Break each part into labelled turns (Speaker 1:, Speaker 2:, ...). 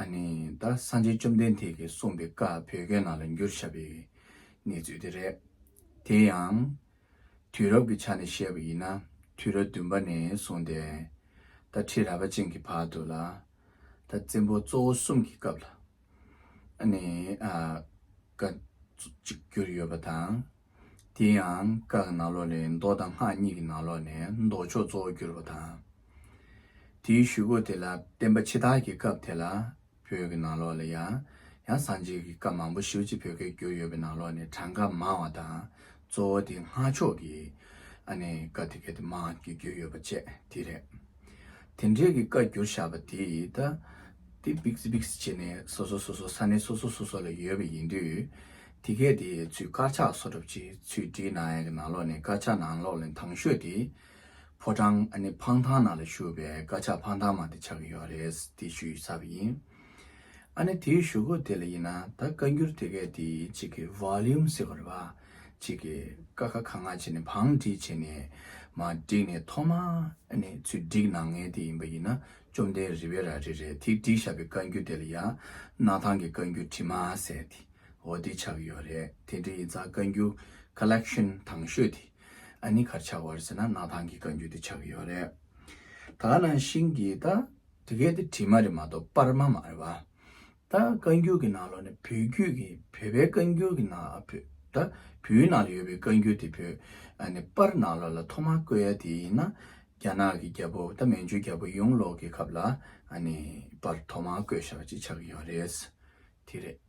Speaker 1: ཨ་ནི་ད་སངས་རྒྱས་བཅོམ་ལྡན་འདས་ཀྱིས་གསུངས་པའི་བཀའ་བོད་སྐད་ནང་ལ་འགྱུར་བྱ་བའི་གནས་ཚུལ་དེ་རེད། དེ་ཡང། དུས་རབས་ཀྱི་ཆ་ནས་བཤད་པ་ཡིན་ན་དུས་རབས་བདུན་པ་ནས་བཟུང་སྟེ། ད་ཁྲི་རལ་པ་ཅན་གྱི་བར་དུ་ལ། ད་བཙན་པོ་གཙོ་བོ་གསུམ་གྱི་སྐབས་ལ། ཨ་ནི། བཀའ། གཅིག་གྱུར་ཡོད་པ་དང། དེ་ཡང་སྐག་གི་ནང་ལོགས་ལས་མདོ་དང་སྔགས་གཉིས་ཀྱི་ནང་ལོགས་ནས་མདོ་ཕྱོགས་གཙོ་བོར་གྱུར་པ་དང། དེའི་ཞུ་སྒོ་དེ་ལ་བརྟེན་པ་ཕྱི་དར་གྱི་སྐབས་དེ་ལ་བོད་ཀྱི་ནང་ལོགས་ལ་ཡང་ཡང་བསང་བྱེད་ཀྱི་སྐབས་མང་པོ་ཞིབ་ཅིག་བོད་སྐད་བསྒྱུར་ཡོད་པའི་ནང་ལོགས་ནས་གྲངས་ཀ་མང་བ་དང་གཙོ་བོ་དེ་སྔགས་ཕྱོགས་ཀྱི་སྐབས་དེ་གལ་ཏེ་མང་གྱུར་བསྒྱུར་ཡོད་པ་བཅས་དེ་རེད། དེ་འབྲེལ་གྱི་བཀའ་བསྒྱུར་བཞག་པ་དེ་ད་ལྟ་དེ་བིཀས་བིཀས་བྱས་ནས་སོ་སོ་སོ་སོ་ས་གནས་སོ་སོ་སོ་སོ་ལ་ཡོད་པ་ཡིན་དུས་དེ་སྐད་དེ་ཡི་ཚུལ་དཀར་ཆག་སོ་གྲུབ་ཀྱིས་ཚུལ་བྲིས་ནག་ཡག་གི་ནང་ལོགས་ནས་དཀར་ཆག་ནང་ལོགས་ལས་ཐང་ཤོད་དེ། ཕོ་བྲང་ནི་ཕང་ཐང་ནང་ལ་ཞུགས་པས་དཀར་ཆག་ཕང་ཐང་མ་དེ་ཆག་གི་ཡོད་རེད་དེ་ཞུ་ཡི་ས་བ་ཡིན། ཨ་ནི་དེའི་ཞུ་སྒོ་དེ་ལ་ཡིན་ན་ད་བཀའ་འགྱུར་དེ་སྐད་དེ་ཡི་གཅིག་གི Volume ཟེར་བ་རེད་བ། གཅིག་གི་ཀ་ཁ་ཁ་ང་བྱས་ནས་བང་བྲིས་བྱས་ནས་མ་བསྒྲིགས་ནས་ཐོག་མ་ནས་ཚུལ་བསྒྲིགས་ནང་ངེས་དེ་ཡིན་པ་ཡིན་ན་བཅོམ་ལྡན་རི་བའི་ར་རི་རེད་དེ་བསྒྲིགས་བཞག་པའི་བཀའ་འགྱུར་དེ་ལ་ཡང་ནག་ཐང་གི་བཀའ་འགྱུར་བྲིས་མ་ཟེར་དེ། འོ་དེ་ཆགས་ཡོད་རེད་དེ་འདྲ་ཡི་རྩ་བཀའ་འགྱུ Collection དང་ཤོས་དེ་ཨ་ནི་གར་ཆགས་བར་ཟེར་ན་གནའ་ཐང་གི་བཀའ་འགྱུ་དེ་ཆགས་ཡོད་རེད་ད་ནང་བཞིན་གྱི་ད་དེ་གས་དེ་བྲིས་མ་རེད་མ་གཏོགས་པར་མ་མ་རེད་བ་ད་བཀའ་འགྱུ་གི་ནང་ལོ་ནས་བོད་རྒྱུད་ཀྱི་བོད་པའི་བཀའ་འགྱུ་གི་ནང་ད་བོད་ནང་ལ་ཡོད་པའི་བཀའ་འགྱུ་དེ་བོད་ཨ་ནི་པར་ནང་ལོ་ལ་ཐོག་མ་བཀོད་ཡ་དེ་ཡིན་ན་རྒྱ་ནག་གི་རྒྱལ་པོ་ད་མན་ཇུ་རྒྱལ་པོ་ཡོང་ལོག་གི་ཁབ་ལ་ཨ་ནི་པར་ཐོག་མ་བཀོད་ཞག་ཅིག་ཆགས་ཡོད་རེད་དེ་རེད།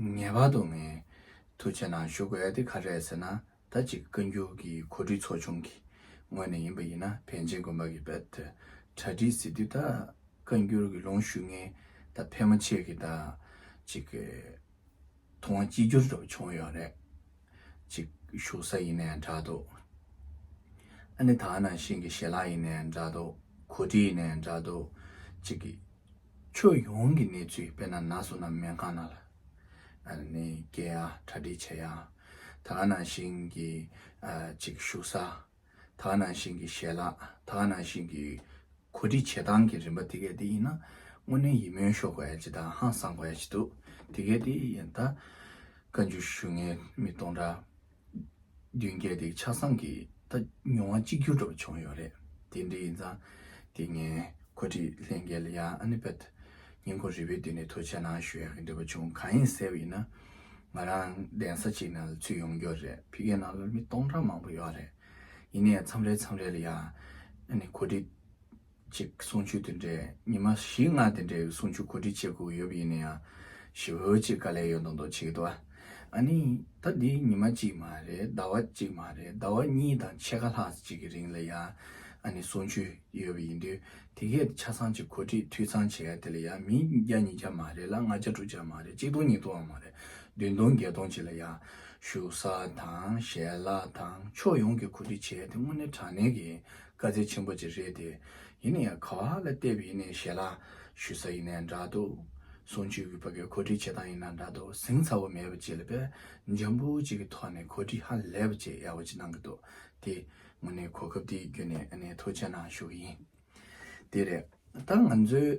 Speaker 1: ངེས་པར་དུ་ངའི་ཐུགས་ཆེ་ནང་ཞུགས་དགོས་ཡ་དེ་ག་རེད་ཟེར་ན་ད་ཅིག་བཀའ་འགྱུར་གྱི་གོ་སྒྲིག་ཚོགས་ཆུང་གི་ངོས་ནས་ཡིན་པ་ཡིན་ན་བན་ཆེན་དགོན་པ་གི་པད་དེ་གྲ་སྒྲིག་ཟེར་དུས་ད་བཀའ་འགྱུར་གི་ལུང་ཞུ་མཁན་ད་ཕལ་མོ་ཆེ་གི་ད་ཅིག་ཐུང་བ་གཅིག་གྱུར་འགྲོ་བྱུང་ཡོད་རེད་ཅིག་བཞུགས་ས་ཡིན་ནའི་འདྲ་འདུག་ཨ་ནི་ད་ནང་བཞིན་གི་ཞལ་ལག་ཡིན་ནའི་འདྲ་འདུག་གོ་སྒྲིག་ཡིན་ནའི་འདྲ་འདུག་ཅིག། ཕྱོགས་ཡོངས་ཀྱི་གནས་ཚུལ་དཔེར་ན་ན་སོ་ན་སྨན་ཁང་ནང་ལ་ནི་སྐྱེལ་ཡང་གྲ་སྒྲིག་བྱེད་ཡང་ད་ག་ནང་བཞིན་གྱི་ཅིག་བཞུགས་ས་ད་ག་ནང་བཞིན་གྱི་ཞལ་ལག་ད་ག་ནང་བཞིན་གྱི་གོ་སྒྲིག་བྱེད་སྟངས་ཀྱི་རིམ་པ་དེ་གས་དེ་ཡིན་ན་དངོས་གནས་ཡིད་སྨོན་ཤོར་དགོས་ཡ་ཅི་དང་ཧང་སངས་དགོས་ཡ་ཅི་འདུག་དེ་གས་དེ་ཡིན་ད་བཀའ་འགྱུར་ཞུ་ངའི་མི་སྟོང་འདྲ། མདུན་བསྐྱེད་དེ་ཆ་ཚང་གི་ད་མྱོང་བ་གཅིག་གྱུར་འགྲུབ་བྱུང་ཡོད་རེད་དེ་འདྲ་ཡིན་ཙང་དེ་ངས་གོ་སྒྲིག་ལྷན་རྒྱལ་ཡ་ཨ་ནི་པད་ཉིན་དགོང་རི་བོའི་མདུན་ནས་ཐུགས་ཆེ་གནང་ཞུ་ཡག་གི་འདོད་པ་བྱུང་གང་ཡིན་ཟེར་བ་ཡིན་ན་ང་རང་གདན་ས་གཅིག་ནང་ལ་ཚུད་ཡོང་རྒྱུ་རེད་ཕི་གའི་ནང་ལ་མི་སྟོང་ཕྲག་མང་པོ་ཡོད་རེད་ཡིན་ནའི་མཚམས་རེ་མཚམས་རེ་ལ་ཡ་ཨ་ནི་གོ་སྒྲིག་ཅེས་གསུང་ཆོས་དེ་འདྲའི་ཉི་མ་བཞི་ལྔ་དེ་འདྲའི་གསུང་ཆོས་གོ་སྒྲིག་བྱེད་དགོས་ཡོད་པ་ཡིན་ན་ཡང་ཞི་བོ་ཅེས་དཀའ་ལས་ཡོད་མདོག་མདོག་བྱེད་ཀྱི་འདུག་ཨ་ནི་ད་འདི་ཉི་མ་གཅིག་མ་རེད་ཟླ་བ་གཅིག་མ་རེད་ཟླ་བ་གཉིས་དང་ཕྱེད་ཀ་ལྷག་ཅིག་གི་རིང་ལ་ཡང་ཨ་ནི་གསུང་ཆོས་ཡོད་པ་ཡིན་དུས་དེ་གའི་ཆ་ཚང་གཅིག་གོ་སྒྲིག་འཐུས་ཚང་བྱེད་ཡ་དེ་ལ་ཡང་མི་བརྒྱ་ཉིས་བརྒྱ་མ་རེད་ལ་ལྔ་བརྒྱ་དྲུག་བརྒྱ་མ་རེད་གཅིག་སྟོང་གཉིས་སྟོང་མ་རེད་བདུན་སྟོང་བརྒྱད་སྟོང་ཅིག་ལ་ཡང་བཞུགས་ས་དང་ཞལ་ལག་དང་ཕྱོགས་ཡོངས་ཀྱི་གོ་སྒྲིག་བྱེད་ཡ་དེ་དངོས་གནས་དྲང་གནས་ཀྱི་དཀའ་ཚེགས་ཆེན་པོ་ཅིག་རེད་དེ། ཡིན་ན་ཡང་ག་བ་ལ་བལྟས་པས་ཡིན་ནའི་ཞལ་ལག་ཞུ་ས་ཡིན་ནའི་འདྲ་འདུག། གསུང་ཆོས་ཀྱི་བ་གའི་གོ་སྒྲིག་བྱེད་སྟངས་ཡིན་ནའི་འདྲ་འདུག་གཟིངས་ཚ་བོ་མེད་པ་ཅིག་ལ་བལ་འཇམ་པོ་ཅིག་གི་ཐོག་ནས་གོ་སྒྲིག་ཧ་ལས་པ་ཅིག་ཡག་པོ་ཅིག་གནང་གི་འདུག་དེ། ངོ་ནས་གོ་སྐབས་འདི་བརྒྱུད་ནས་ཨ་ནེ་ཐུགས་རྗེ་གནང་ཞུ་གི་ཡིན། དེ་རེད། ད་ང་ཚོའི།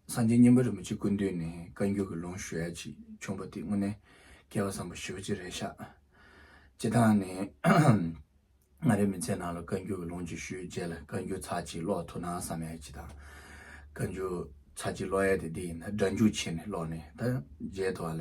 Speaker 1: སངས་རྒྱས་སྙིང་པོའི་རིན་པོ་ཆེ་ཀུན་འདུས་ནས་བཀའ་འགྱུར་གྱི་ལུང་ཞུ་ཡ་ཅིག་བྱུང་བ་དེ་དངོས་གནས་སྐལ་བ་བཟང་པོ་ཞི་བ་ཅི་རེད་ཤག། སྤྱི་དང་ནས། མངའ་རིས་མི་ཚེའི་ནང་ལ་བཀའ་འགྱུར་གྱི་ལུང་ཅིག་ཞུས་རྗེས་ལ་བཀའ་འགྱུར་ཚར་གཅིག་ཀློག་ཐུབ་ན་བསམ་ཡ་ཅིག་དང། བཀའ་འགྱུར་ཚར་གཅིག་ཀློག་ཡ་དེ་འདི་ཡིན་ད་སྒྲ་འཇུག་ཆེ་ནས་ཀློག་ནས་ད་མཇལ་དུ་བ་ལ།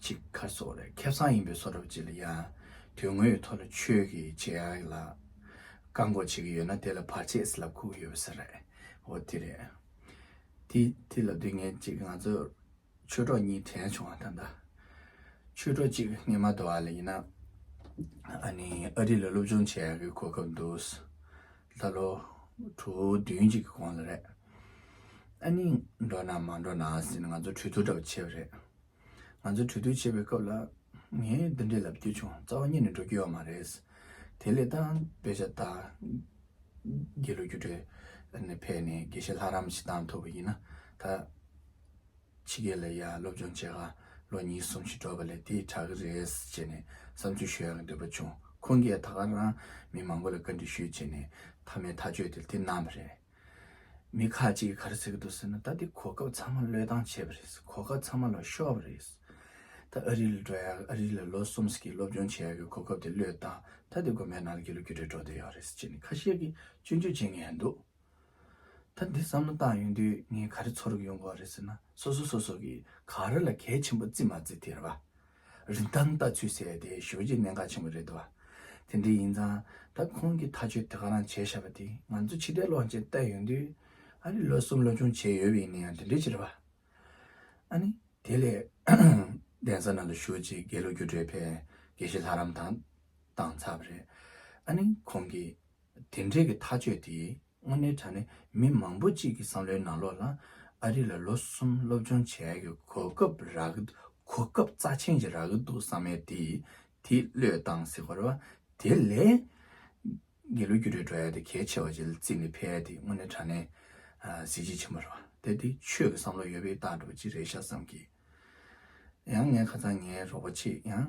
Speaker 1: གཅིག་མཁར་ཚོགས་ལས་ཁེབས་གསང་ཡིན་པའི་ཚོགས་གྲབས་བྱེད་ལ་ཡང་དོན་དངོས་ཡོད་ཐོག་ལ་ཆོས་ཀྱི་བྱེད་ཡ་ལ་བཀག་འགོག་བྱེད་ཀྱི་ཡོད་ན་དེ་ལ་བར་ཆད་ལ་ཁུག་གི་ཡོད་པ་ཟེར་རེད་འོ་དེ་རེད་དེ་དེ་ལ་སྡུག་བསྔལ་གཅིག་ང་ཚོ་ཆོས་གྲོགས་གཉིས་དྲན་བྱུང་བ་ད་ལྟ་ཆོས་གྲོགས་གཅིག་རྔན་མ་དོ་བ་ལ་ཡིན་ན་ཨ་ནི་ཨ་རི་ལ་སློབ་སྦྱོང་བྱེད་ཡ་གི་གོ་སྐབས་འདུག་ལྷ་ལོ། དྲུག་བདུན་གཅིག་གི་གོང་ལ་རེད། ཨ་ནི་འགྲོ་ན་མ་འགྲོ་ན་ཟིན་ང་ཚོ་གྲོས་བསྡུར་འདྲ་བོ་བྱས་པ་རེད། ང་ཚོ་གྲོས་བསྡུར་བྱས་པའི་སྐབས་ལ། ངས་འདི་འདྲའི་ལབ་རྒྱུ་བྱུང་རྩ་བ་ཉིད་ནས་འགྲོ་རྒྱུ་ཡོད་མ་རེད། དེ་ལས་ད་བོད་ཤ་སྟག་རྒྱལ་ལོ་རྒྱུ་འབྲས་ཕལ་ནས་དགེ་བཤེས་ལྷ་རམས་ཤི་སྟངས་ཐུབ་པ་ཡིན་ན་ད། ཕྱི་རྒྱལ་ལ་ཡར་སློབ་སྦྱོང་བྱེད་དགའ། ལོ་གཉིས་གསུམ་ཞིག་འགྲོ་བ་ལས་དེ་དྲག་གི་རེད་ཟེར་ནས་བསམ་ཚུལ་ཞུ་ཡག་གི་འདོད་པ་བྱུང། ཁོང་གིས་ད་ག་རང་མི་མང་པོ་ལ་བཀའ་འདྲི་ཞུས་བྱས་ནས་མཐའ་མའི་ཐག་གཅོད་དེ་དེ་གནང་བ་རེད། མི་ཁག་ཅིག་གིས་ག་རེ་ཟེར་གི་འདུག་ཟེར་ན་ད་དེ་གོ་སྐབས་ཚང་མ་བློས་བཏང་བྱས་པ་རེད། གོ་སྐབས་ཚང་མ་ལ་ཤོར་བ་རེད། ད་ཨ་རི་ལ་འགྲོ་ཡག་གི་ཨ་རི་ལ་ལོ་གསུམ་ཟིག་གི་སློབ་སྦྱོང་བྱེད་ཡག་གི་གོ་སྐབས་དེ་བློས་བཏང་ད་དེ་དགོན་པའི་ནང་ལ་དགེ་ལུགས་རྒྱུ་འབྲས་འགྲོ་འདོད་ཡོད་རེད་ཟེར་ནས་ཁ་ཤས་ཀྱིས་སྐྱོན་བརྗོད་བྱེད་ངེས་འདུག། ད་འདི་བསམ་བློ་བཏང་ཡོང་དུས་ངས་ག་རེ་ཚོར་གི་ཡོང་གོ་རེད་ཟེར་ན་སོ་སོ་སོ་སོ་གིས་ག་རེ་ལ་གལ་ཆེན་པོ་བརྩི་མ་བརྩི་དེ་རེད་བ། རིན་ཐང་ལྟ་ཚུལ་ཟེར་དེ་ཞོལ་གྱི་གནད་འགག་ཆེན་པོ་རེད་འདུག་བ། དེ་འདྲའི་ཡིན་ཙང་ད་ཁོང་གིས་ཐག་གཅོད་དེ་ག་རང་བྱས་ཤག་བ་དེ་ང་ཚོ་ཕྱི་དགྲའི་གློག་ཅན་བལྟ་ཡོང་དུས་ཨ་རིས་ལོ་གསུམ་ལོ་ཆུང་བྱས་ཡོད་བའི་ཡིན་ན་ཡང་དེ་འདྲའི་ཕྱིར་རེད་བ། ཨ་ནི། དེ་ལས། གདན་ས་ནང་དུ་ཞུགས་རྗེས་དགེ་ལུགས་རྒྱུ་འབྲས་ཕལ་དགེ་ཞིག་ལྷ་རམས་དང་བཏང་ཚར་བ་རེད། ཨ་ནི། ཁོང་གིས། དེ་འབྲེལ་གྱི་ཐག་གཅོད་དེས་དངོས་གནས་དྲ་ནས་མི་མང་པོ་གཅིག་གི་བསམ་བློའི་ནང་ལོགས་ལ་ཨ་རི་ལ་ལོ་གསུམ་སློབ་སྦྱོང་བྱས་ཀྱི་གོ་སྐབས་རག་གི་འདུག་གོ་སྐབས་རྩ་ཆེན་ཞིག་རག་གི་འདུག་བསམ་མེད་དེ་དེ་བློས་བཏང་སྲིད་གོ་རེ་བ། དེ་ལས། རྒྱལ་ལོ་རྒྱུ་འབྲས་འགྲོ་ཡ་དེ་གལ་ཆེ་བ་ཞིག་ལ་བརྩིས་ནས་ཕེ་ཡ་དེ་དངོས་གནས་དྲ་ནས་གཟི་བརྗིད་ཆེན་པོ་རེ་བ། དེ་དེ་ཆོས་ཀྱི་བསམ་བློ་ཡོད་པའི་རྟགས་འགྲོ་བ་ཅི་རེད་ཤག་བསམ་གྱིས། ཡང་ངས་ཁ་ཚང་ངའི་རོགས་པ་ཆེ་ཡང།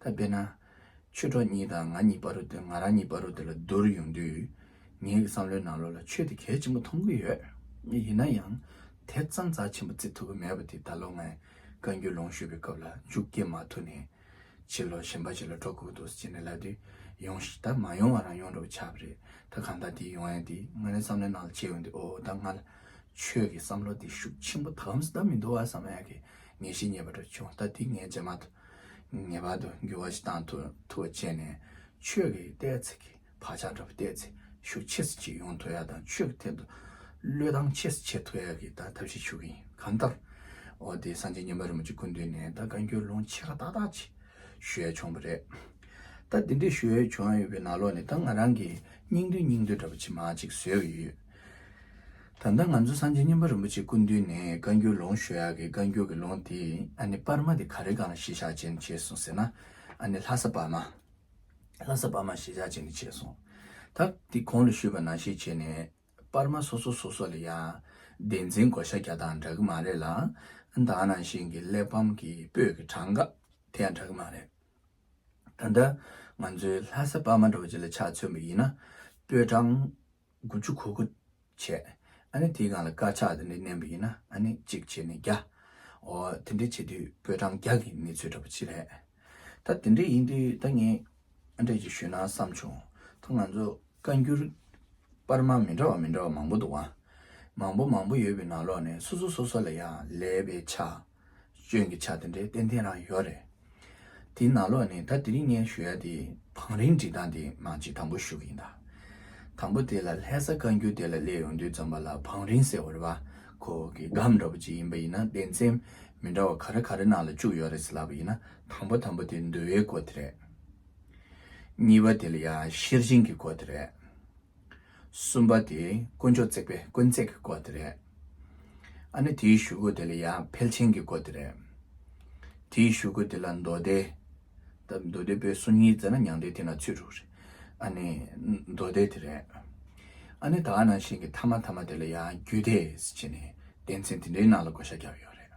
Speaker 1: ད་དཔེར་ན། ཆོས་གྲོགས་གཉིས་དང་ང་གཉིས་སྤ་རོ་དེ་ང་རང་གཉིས་སྤ་རོ་དེ་ལ་བསྡུར་ཡོང་དུས། ངའི་བསམ་བློའི་ནང་ལོ་ལ་ཆོས་དེ་གལ་ཆེན་པོ་མཐོང་གི་ཡོད། ཡིན་ན་ཡང། དེ་ཙམ་རྩ་ཆེན་པོ་བརྩི་ཐུབ་ཀྱི་མེད་པ་དེ་ད་ལོ་ངས་བཀའ་འགྱུར་ལུང་ཞུས་པའི་སྐབས་ལ་མཇུག་སྐྱེལ་མ་ཐུབ་ནས། ཕྱི་ལོ་གཞན་པ་ཞིག་ལ་འགྲོ་དགོས་འདུག་ཅེས་ནས་ལབ་དུས། ཡོང་ཞིག་ད་མ་ཡོང་བ་རང་ཡོང་འགྲོ་བ་ཆགས་པ་རེད་ད་གང་ལྟར་དེ་ཡོང་ཡ་དེ་ང་རང་བསམ་བློའི་ནང་ལ་བྱས་ཡོང་དུས་ཨོ་ད་ང་ལ་ཆོས་ཀྱི་བསམ་བློ་དེ་ཤུགས་ཆེན་པོ་ད་ལམ་སུ་ད་མི་འདུག་ཨ་བསམ་ཨ་ཀི་ངེས་ཤེས་རྙེད་པ་འདྲ་བྱུང་ལྟ་དེ་ངས་རྗེས་མ་དུ་ངེས་པར་དུ་འགྱུར་བ་ཞིག་བཏང་ཐུབ་བ་བྱས་ནས་ཆོས་ཀྱི་ལྟས་ཚེ་གི་བག་ཆགས་འདྲ་བོ་བརྟས་ཚེ་ཤུགས་ཆེ་སེ་ཆེ་ཡོང་ཐུབ་ཡ་དང་ཆོས་ཀྱི་ཐད་དུ་བློས་བཏང་ཆེ་སེ་ཆེ་ཐུབ་ཡ་གི་ད་ཐབས་ཤིག་ཞུ་གི་ཡིན་གང་ལྟར་འོ་དེ་སངས་རྒྱས་ཉིན་མ་རིན་པོ་ཆེ་སྐུ་མདུན་ནས་ད་བཀའ་འགྱུར་ལུང་ཆེ་ཁ་ཏག་ཏག་ཅིག་ཞུ་ཡ་བྱུང་བ་རེད། ད་དེ་འདྲ་ཞུ་ཡ་བྱུང་ཡོད་པའི་ནང་ལོགས་ནས་ད་ང་རང་གིས་སྙིང་བསྡུས་སྙིང་བསྡུས་འདྲ་བོ་ཆེ་མང་ཅིག་བཟོས་ཡོད། ད་ལྟ་ང་ཚོ་སངས་རྒྱས་སྙིམ་པ་རིན་པོ་ཆེ་སྐུ་མདུན་ནས་བཀའ་འགྱུར་ལུང་ཞུ་ཡག་གི་བཀའ་འགྱུར་གྱི་ལུང་དེ་ཨ་ནི་པར་མ་དེ་ག་རེ་གང་ལ་གཞི་ཆགས་ཅན་ནས་བྱས་སོང་ཟེར་ན་ཨ་ནི་ལྷ་ས་པར་མ། ལྷ་ས་པར་མ་གཞི་ཆགས་ཅན་ནས་བྱས་སོང། ད་དེ་གང་ལ་ཞུས་པ་ནང་བཤད་བྱས་ནས་པར་མ་སོ་སོ་སོ་སོ་ལ་ཡང་བདེན་འཛིན་བགོ་བཤའ་རྒྱག་དང་འདྲ་གི་མ་རེད་ལ་ཨ་ད་ནང་བཞིན་གྱི་གླེགས་བམ་གྱི་སྤོས་ཀྱི་གྲངས་ཀ་དེ་ཡང་འདྲ་གི་མ་རེད། ད་ལྟ་ང་ཚོའི་ལྷ་ས་པར་མ་འདྲ་བོ་ཅིག་ལ་ཆགས་ཚུལ་མ་ཡིན་ན་སྤོས་གྲངས། དགུ་བཅུ་གོ་དགུ། བྱས། ཨ་ནི་དེའི་སྒང་ལ་དཀར་ཆག་དེ་འདྲ་བསྣན་པ་ཡིན་ན་ཨ་ནི་གཅིག་བྱས་ནས་བརྒྱ། ཨོ། དེ་འདྲ་བྱེད་དུས་པོད་གྲངས་བརྒྱ་གི་གནས་ཚུལ་འདྲ་པོ་ཅི་རེད། ད་དེ་འདྲ་ཡིན་དུས་ད་ངས་ཨ་འདྲ་ཅིག་ཞུས་ན་བསམ་བྱུང། ད་ང་ཚོ་བཀའ་འགྱུར་དཔར་མ་མི་འདྲ་བ་མི་འདྲ་བ་མང་པོ་འདུག་ཨ། མང་པོ་མང་པོ་ཡོད་པའི་ནང་ལོགས་ནས་སོ་སོ་སོ་སོ་ལ་ཡང་ལས་པའི་ཆ། སྐྱོན་གྱི་ཆ་དེ་འདྲའི་ཏན་ཏན་རང་ཡོད་རེད། དེའི་ནང་ལོགས་ནས་ད་དེ་རིང་ངས་ཞུ་ཡ་དེ་བང་རིམ་སྒྲིག་སྟངས་དེའི་ནང་གཅིག་དང་པོ་ཞུ་གི་ཡིན་ད། དང་པོ་དེ་ལ་ལྷད་ས་བཀའ་འགྱུར་དེ་ལ་སླེབས་ཡོང་དུས་འཛོམས་པ་ལ་བང་རིམ་ཟེར་བ་རེད་བ་ཁོ་གི་སྒམ་འདྲ་བོ་ཅིག་ཡིན་པ་ཡིན་ན་སྡེ་ཚན་མི་འདྲ་བ་ག་རེ་ག་རེ་ནང་ལ་བཅུག་ཡོད་རེད་ཟེར་ལབ་པ་ཡིན་ན་དང་པོ་དང་པོ་དེ་མདོའི་སྐོར་དེ་རེད། གཉིས་པ་དེ་ལ་ཡང་ཤེར་ཕྱིན་གྱི་སྐོར་དེ་རེད། གསུམ་པ་དེ་དཀོན་མཆོག་བརྩེགས་པའི་དཀོན་བརྩེགས་ཀྱི་སྐོར་དེ་རེད། ཨ་ནི་དེའི་ཞུ་སྒོ་དེ་ལ་ཡང་ཕལ་ཆེན་གྱི་སྐོར་དེ་རེད། དེའི་ཞུ་སྒོ་དེ་ལ་མདོ་སྡེ། ད་མདོ་སྡེ་པོའི་སོ་གཉིས་མཛད་ན་མྱང་འདས་དེ་ན་ཚུད་འགྲོ་གི་རེད། ཨ་ནི་མདོ་སྡེ་དེ་རེད། ཨ་ནི་དག་སྣང་ཞིང་གི་མཐའ་མ་ཐ་མ་དེ་ལ་ཡང་རྒྱུད་སྡེ་ཞེས་ནས་སྡེ་ཚན་དེ་འདྲའི་ནང་ལ་བགོ་བཤའ་རྒྱག་ཡོད་རེད།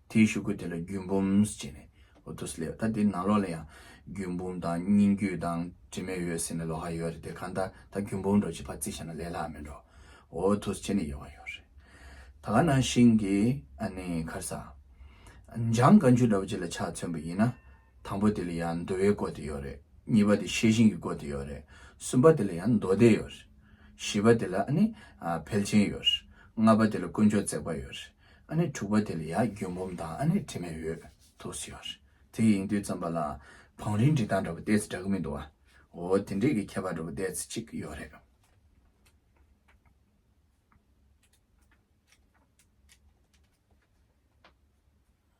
Speaker 1: དེའི་ཞུ་སྐུལ་དེ་ལ་རྒྱུད་འབུམ་ཅེས་ནས་འོ་དོ་སི་ལེ་ད་དེ་ནང་ལོགས་ལ་ཡང་རྒྱུད་འབུམ་དང་སྙིང་རྒྱུད་དང་དྲི་མེད་འོད་ཟེར་ནས་ལོགས་ཧ་ཡོད་རེད་དེ་གང་ལྟར་ད་རྒྱུད་འབུམ་འགྲོ་ཅེས་ཕར་བརྩིས་བྱས་ན་ལས་ལྷག་མི་འགྲོ་འོ་དོ་སི་ཅེས་ནས་ཡོད་ཀ་ཡོད་རེད་ད་ག་ནང་བཞིན་གྱི་ཨ་ནི་ཁར་ས་འཇམ་དཀར་མཆུ་འདྲ་བོ་ཅིག་ལ་ཕྱག་མཚོན་པ་ཡིན་ན་དང་པོ་དེ་ལ་ཡང་འདུལ་བའི་སྐོར་དེ་ཡོད་རེད་གཉིས་པ་དེ་ཤེས་བཞིན་གྱི་སྐོར་དེ་ཡོད་རེད་གསུམ་པ་དེ་ལ་ཡང་མདོ་སྡེ་ཡོད་རེད་བཞི་པ་དེ་ལ་ཨ་ནི་ཕལ་ཆེན་ཡོད་རེད་ལྔ་པ་དེ་ལ་དཀོན་མཆོག་བརྩེགས་པ་ཡོད་རེད་ཨ་ནེ་དྲུག་པ་དེ་ལ་ཡ་རྒྱུན་འབུམ་དང་ཨ་ནེ་དྲི་མེད་ཡོད་དོ་ཟེར། དེ་ཡིན་དུས་རྩམ་པ་ལ་བང་རིའི་འབྲི་སྟངས་འདྲ་པོ་ཏེས་འདྲ་གི་མི་འདུག་ཨ། འོ་དེ་འདྲས་ཀྱི་ཁྱད་པར་འདྲ་པོ་ཏེས་གཅིག་ཡོད་རེད།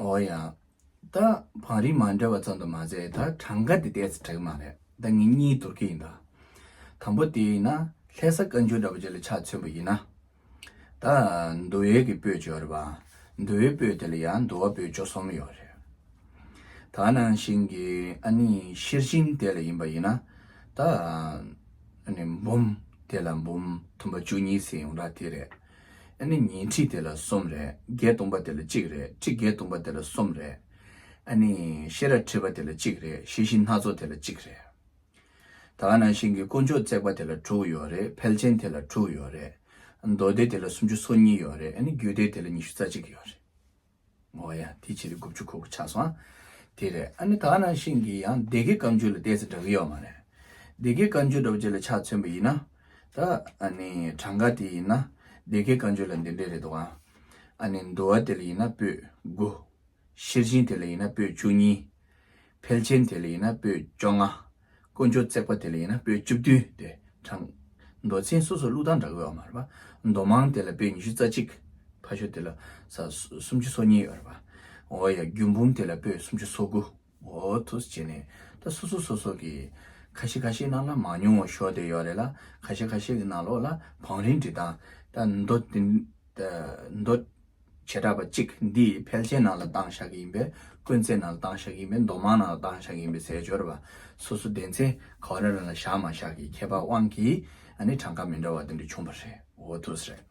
Speaker 1: ཨོ་ཡ། ད་བང་རིམ་མ་འདྲ་བ་ཙམ་དུ་མ་ཟད་ད་གྲངས་ཀ་དེ་བལྟས་ཚེ་དྲེག་མ་རེད་ད་ངེད་གཉིས་དོར་གི་ཡིན་ད། དང་པོ་དེ་ཡིན་ན་ལྷས་ས་བཀའ་འགྱུར་འདྲ་པོ་བཅས་ལ་ཆ་མཚོན་པ་ཡིན་ན། ད། འདུ་བའི་གི་སྤོས་བཅོ་རི་བ། འདུ་བའི་སྤོས་དེ་ལ་ཡ་འདུ་བ་སྤོས་བཅོ་གསུམ་ཡོད་རེད། ད་ནང་བཞིན་གི་ཨ་ནི་ཤེར་ཕྱིན་དེ་ལ་ཡིན་པ་ཡིན་ན། ད། ཨ་ནི་འབུམ་དེ་ལ་འབུམ་དུམ་པ་བཅུ་གཉིས་ཟེར་ཡོང་གྲ་དེ་རེད། ཨ་ནི་ཉིས་ཁྲི་དེ་ལ་གསུམ་རེད་བརྒྱད་སྟོང་པ་དེ་ལ་གཅིག་རེད་ཁྲི་བརྒྱད་སྟོང་པ་དེ་ལ་གསུམ་རེད། ཨ་ནི་ཤེས་ར་ཁྲི་བ་དེ་ལ་གཅིག་རེད་ཤེས་བཞི་སྣ་ཚོགས་དེ་ལ་གཅིག་རེད། ད་ང་ནང་བཞིན་གྱི་དཀོན་མཆོག་བརྩེགས་པ་དེ་ལ་དྲུག་ཡོད་རེད་ཕལ་ཆེན་དེ་ལ་དྲུག་ཡོད་རེད། མདོ་སྡེ་དེ་ལ་སུམ་ཅུ་སོ་གཉིས་ཡོད་རེད་ཨ་ནི་རྒྱུད་སྡེ་དེ་ལ་ཉི་ཤུ་རྩ་གཅིག་ཡོད་རེད། ངོ་ཡ། དེ་ཕྱི་ལ་དགུ་བཅུ་གོ་གོ་ཆགས་སོང་ཨ། དེ་རེད་ཨ་ནི་ད་ང་ནང་བཞིན་གྱི་ཡང་སྡེ་དགེ་བཀའ་འགྱུར་ལ་བལྟས་ཚེ་འདྲ་གི་ཡོད་མ་རེད། སྡེ་དགེ་བཀའ་འགྱུར་འདྲ་པོ་ཅིག་ལ་ཆ་མཚོན་པ་ཡིན་ན། ད་ཨ་ནི་གྲངས་ཀ་དེ་ཡིན་ན་སྡེ་དགེ་བཀའ་འགྱུར་ལ་འདི་འདྲ་རེད་འདུག་ཨ། ཨ་ནི་མདོ་བ་དེ་ལ་ཡིན་ན་པོད་དགུ། ཤེར་ཕྱིན་དེ་ལ་ཡིན་ན་པོད་བཅུ་གཉིས། ཕལ་ཆེན་དེ་ལ་ཡིན་ན་པོད་བཅོ་ལྔ། དཀོན་མཆོག་བརྩེགས་པ་དེ་ལ་ཡིན་ན་པོད་བཅུ་བདུན་ཏེ་དྲངས། མདོ་ཚན་སོ་སོར་ལུགས་དང་འདྲ་གོ་ཨ་མ་ར། མདོ་མང་དེ་ལ་པོད་ཉི་ཤུ་རྩ་གཅིག། ཕ་ཤོ་དེ་ལ་ས་སུམ་ཅུ་སོ་གཉིས་ཨ་ར། འོ་ཡ་རྒྱུད་འབུམ་དེ་ལ་པོད་སུམ་ཅུ་སོ་དགུ། འོ་ཐུགས་བྱས་ནས་ད་སོ་སོ་སོ་སོ་གི། ཁ་ཤས་ཁ་ཤས་ནང་ན་མང་ཉུང་ངོ་ཤོག་དེ་ཡོག་རེད་ལ་ཁ་ཤས་ཁ་ཤས་ཀྱི་ནང་ལོགས་ལ་བང་རིམ་འབྲི་སྟངས། ད་མདོ། བྱེ་བྲག་པ་གཅིག་འདིས་ཕལ་ཆེན་ནང་ལ་བཏང་བཞག་གི་ཡིན་པས་དཀོན་བརྩེགས་ནང་ལ་བཏང་བཞག་གི་ཡིན་པས་མདོ་མང་ནང་ལ་བཏང་བཞག་གི་ཡིན་པའི་ཟས་སྦྱོར་བ་སོ་སོ་ལྡན་ཚེ་ག་རང་རང་ལ་བཞག་མ་བཞག་གི་ཁྱད་པར་དབང་གིས་ནི་གྲངས་ཀ་མི་འདྲ་བ་དེ་འདྲ་བྱུང་བ་རེད་འོ་ཐུགས་རེད།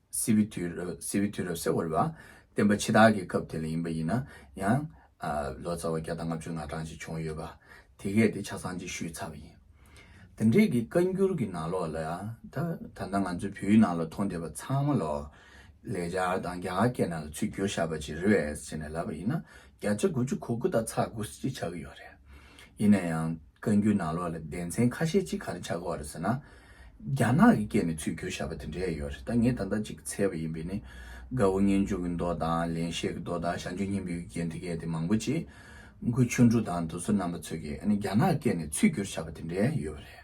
Speaker 1: སྲིད་པའི་དུས་རབས་སྲིད་པའི་དུས་རབས་སེ་བོར་བ། བསྟན་པ་འཆི་བདག་གི་སྐབས་དེ་ལ་ཡིན་པ་ཡིན་ན་ཡང། ལོ་ཙཱ་བ་བརྒྱ་དང་ལྔ་བཅུ་ལྔ་གྲངས་ཅིག་བྱུང་ཡོད་པ། དེ་གས་དེ་ཆ་ཚང་ཅིག་ཞུས་ཚར་བ་ཡིན། དེ་འབྲེལ་གྱི་བཀའ་འགྱུར་གྱི་ནང་ལོགས་ལ་ད་ལྟ་ང་ཚོའི་བོད་ཡིག་ནང་ལ་མཐོང་བསྡད་པ་ཚང་མ་ལོགས། ལེགས་སྦྱར་དང་རྒྱ་གར་སྐད་ནང་ལ་ཚུལ་བསྒྱུར་བཞག་པ་ཅིག་རེད་ཟེར་ནས་ལབ་པ་ཡིན་ན། བརྒྱ་ཆ་དགུ་བཅུ་གོ་དགུ་དག་ཚགས་དགུ་ཅིག་ཆགས་ཀྱི་ཡོད་རེད། ཡིན་ན་ཡང་བཀའ་འགྱུར་ནང་ལོགས་ལ་བདེན་མཚན་ཁ་ཤས་གཅིག་ག་རེ་ཆགས་དགོས་བ་རེད་ཟེར་ན། རྒྱ་ནག་གི་སྐད་ནས་ཚུལ་འཁྱོལ་བྱ་བ་དེ་འདྲས་ཡོད་རེད་ད་ངས་ད་ལྟ་ཅིག་འཚལ་བ་ཡིན་པས་ནི། དགའ་བོ་སྙན་འཇུག་གི་མདོ་དང་ལེན་བཤད་ཀྱི་མདོ་དང་ཞང་ཆོས་སྙིང་པོའི་རྒྱན་དེ་གས་དེ་མང་པོ་ཅིག། མགུར་ཆུང་འབྲུ་དང་དུ་སོ་རྣམ་པ་ཚོས་ཀྱིས་ནི་རྒྱ་ནག་སྐད་ནས་ཚུལ་འཁྱོལ་བྱ་བ་དེ་འདྲས་ཡོད་བ་རེད།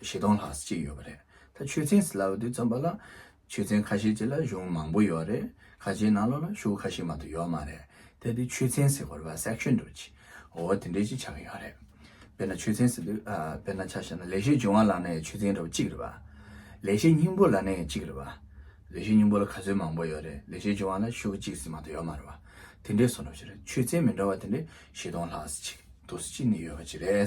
Speaker 1: བཞི་སྟོང་ལྷག་ཅིག་ཡོད་པ་རེད། ད་ཆོས་ཚན་སི་ལ་བ་དུས་འཛོམས་པ་ལ་ཆོས་ཚན་ཁ་ཤས་ཅིག་ལ་གཞུང་མང་པོ་ཡོད་རེད། ཁ་ཆེའི་ནང་ལོགས་ལ་ཤུག་ཁ་ཤས་མ་གཏོགས་ཡོད་མ་རེད། དེ་དུས་ཆོས་ཚན་སི་གོར་བ Section དུ་ཆི་འོ་དེ་འདྲས་ཅིག་ཆགས་ཀྱི་ཡོད་རེད། དཔེར་ན་ཆོས་ཚན་སི་དུས་དཔེར་ན་ཆ་ཤས་ན་ལེགས་བཤད་འབྱུང་བ་ལགས་ན་ཡང་ཆོས་ཚན་ར་བ་གཅིག་རེད་བ། ལེགས་བཤད་སྙིང་པོ་ལགས་ན་ཡང་གཅིག་རེད་བ། ལེགས་བཤད་སྙིང་པོ་ལ་ག་ཚོད་མང་པོ་ཡོད་རེད་ལེགས་བཤད་འབྱུང་བ་ལ་ཤུག་གཅིག་ཟིག་མ་གཏོགས་ཡོད་མ་རེད་བ། དེ་འདྲས་སོ་ནོ་ཅི་རེད་ཆོས་ཚན་མི་འདྲ་བ་དེ་འདྲས་བཞི་སྟོང་ལྷག་ཅིག་དུ་ཅིག་ནི་ཡོད་པ་ཅིག་རེད།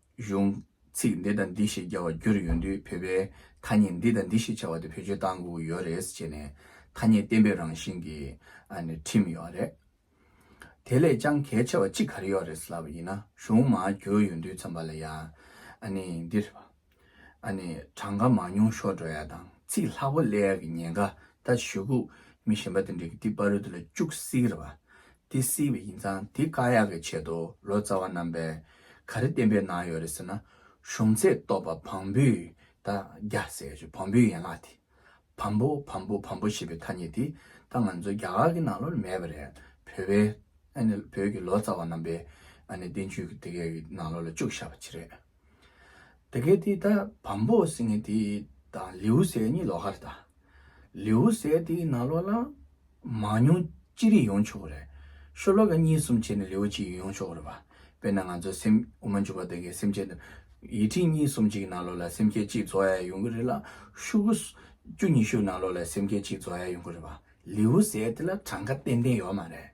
Speaker 1: གཞུང། ཚིག་འདི་དང་འདི་ཞེས་རྒྱ་བ་བསྒྱུར་ཡོང་དུས་བོད་པས་ཐ་སྙད་འདི་དང་འདི་ཞེས་བྱ་བ་དེ་བེད་སྤྱོད་བཏང་དགོས་ཀྱི་ཡོད་རེད་ཅེས་ནས་ཐ་སྙད་གཏན་འབེབས་རང་བཞིན་གྱི་ཁྲིམས་ཡོད་རེད། དེ་ལས་ཀྱང་གལ་ཆེ་བ་གཅིག་ག་རེ་ཡོད་རེད་ལབ་པ་ཡིན་ན་གཞུང་མང་བསྒྱུར་ཡོང་དུས་ཚོམས་པ་ལ་ཡང་འདིར་གྲངས་ཀ་མང་ཉུང་ཤོར་འགྲོ་ཡ་དང་ཚིག་ལྷག་པོ་གླེ་ཡ་གི་ཉེན་ཁ་ད་ཞུ་གུ་མི་གཞན་པ་དེ་འདྲས་ཀྱི་ཏི་པ་རུ་དེ་ལ་བཅུག་བསིག་ར་བ་དེ་བསིག་པ་ཡིན་ཙང་དེ་དཀའ་ཡག་གི་ཆེད་དུ་ལོ་ཙཱ་བ་རྣམ་པས་ག་རེ་བསྟན་པའི་ནང་ཡོད་རེད་ཟེར་ན། གཞུང་ཚད་རྟོགས་པ་བམ་པོའི་ད་རྒྱ་ཟེར་ཞེས་བམ་པོའི་ཡན་ལག་དེ། བམ་པོ་བམ་པོ་བམ་པོ་ཞེས་པའི་ཐ་སྙད་དེ་ད་ང་ཚོའི་རྒྱ་གར་གྱི་ནང་ལོར་མེད་པ་རེད། བོད་པའི། བོད་ཀྱི་ལོ་ཙཱ་བ་རྣམ་པས། བསྟན་བཅོས་ཀྱི་དེ་གའི་ནང་ལོར་ལ་བཅུག་བཞག་པ་ཅི་རེད། དེ་གའི་དེ་ད་བམ་པོ་ཟེར་ངེས་དེ་དང་ལེའུ་ཟེར་གཉིས་ལོགས་ཀར་དང། ལེའུ་གསལ་དེ་ན་ལོ་ལ། མ་མྱོང་ཅི་རིགས་ཡོང་ཆོག་གི་རེད། ཤོ་ལོ་ཀ་གཉིས་གསུམ་བྱས་ནས་ལེའུ་གཅིག་ཡོང་ཆོག་གི་རེད་བ། དཔེར་ན་ང་ཚོ་སེམས་དབུ་མ་འཇུག་པ་དེ་གའི་སེམས་བསྐྱེད་དང། ཡིད་ཁྲིད་གཉིས་གསུམ་གཅིག་ན་ལོ་ལ་སེམས་བསྐྱེད་གཅིག་རྫོགས་ཡས་ཡོང་གི་རེད་ལ། ཤུག་གུ། བཅུ་གཉིས་ཤུག་ན་ལོ་ལ་སེམས་བསྐྱེད་གཅིག་རྫོགས་ཡས་ཡོང་གི་རེད་བ། ལེའུ་གསལ་དེ་ལ་གྲངས་ཀ་ཏན་ཏན་ཡོད་མ་རེད།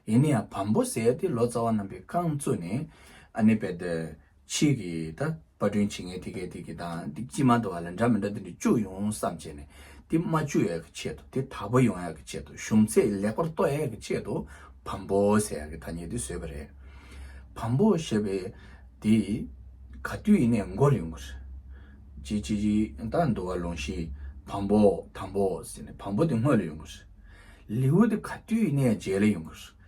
Speaker 1: ཡིན་ན་ཡང་བམ་པོ་གསལ་དེ་ལོ་ཙཱ་བ་རྣམས་པའི་རྐང་བཙུགས་ནས། ཨ་ནི་བས། ཕྱིས་ཀྱི་ད་པར་སྐྲུན་བྱེད་མཁན་དེ་གས་དེ་གས་དང་དེ་ཅི་མ་འདུག་བ་ལ་འདྲ་མི་འདྲ་དེ་འདྲ་བཅུག་ཡོང་བསམ་བྱས་ནས་དེ་མ་བཅུག་ཡས་ཀྱི་ཆེད་དུ་དེ་དག་པོ་ཡོང་ཡས་ཀྱི་ཆེད་དུ་གཞུང་ཚད་ལེགས་པར་གཏོད་ཡས་ཀྱི་ཆེད་དུ་བམ་པོ་ཟེར་ཡས་ཀྱི་ཐ་སྙད་དེ་བཟོས་པ་རེད། བམ་པོ་ཞེས་པའི་དེ་ག་དུས་ཡིན་ནས་འགོར་ཡོང་གི་རེད། ཅི་ཅི་ཅི་ད་འདུག་བ་ལུང་ཤིའི་བམ་པོ་དམ་པོ་ཟེར་ནས་བམ་པོ་དེ་སྔོན་ལ་ཡོང་གི་རེད། ལེའུ་དེ་ག་དུས་ཡིན་ནས་རྗེས་ལ་ཡོང་གི་རེད།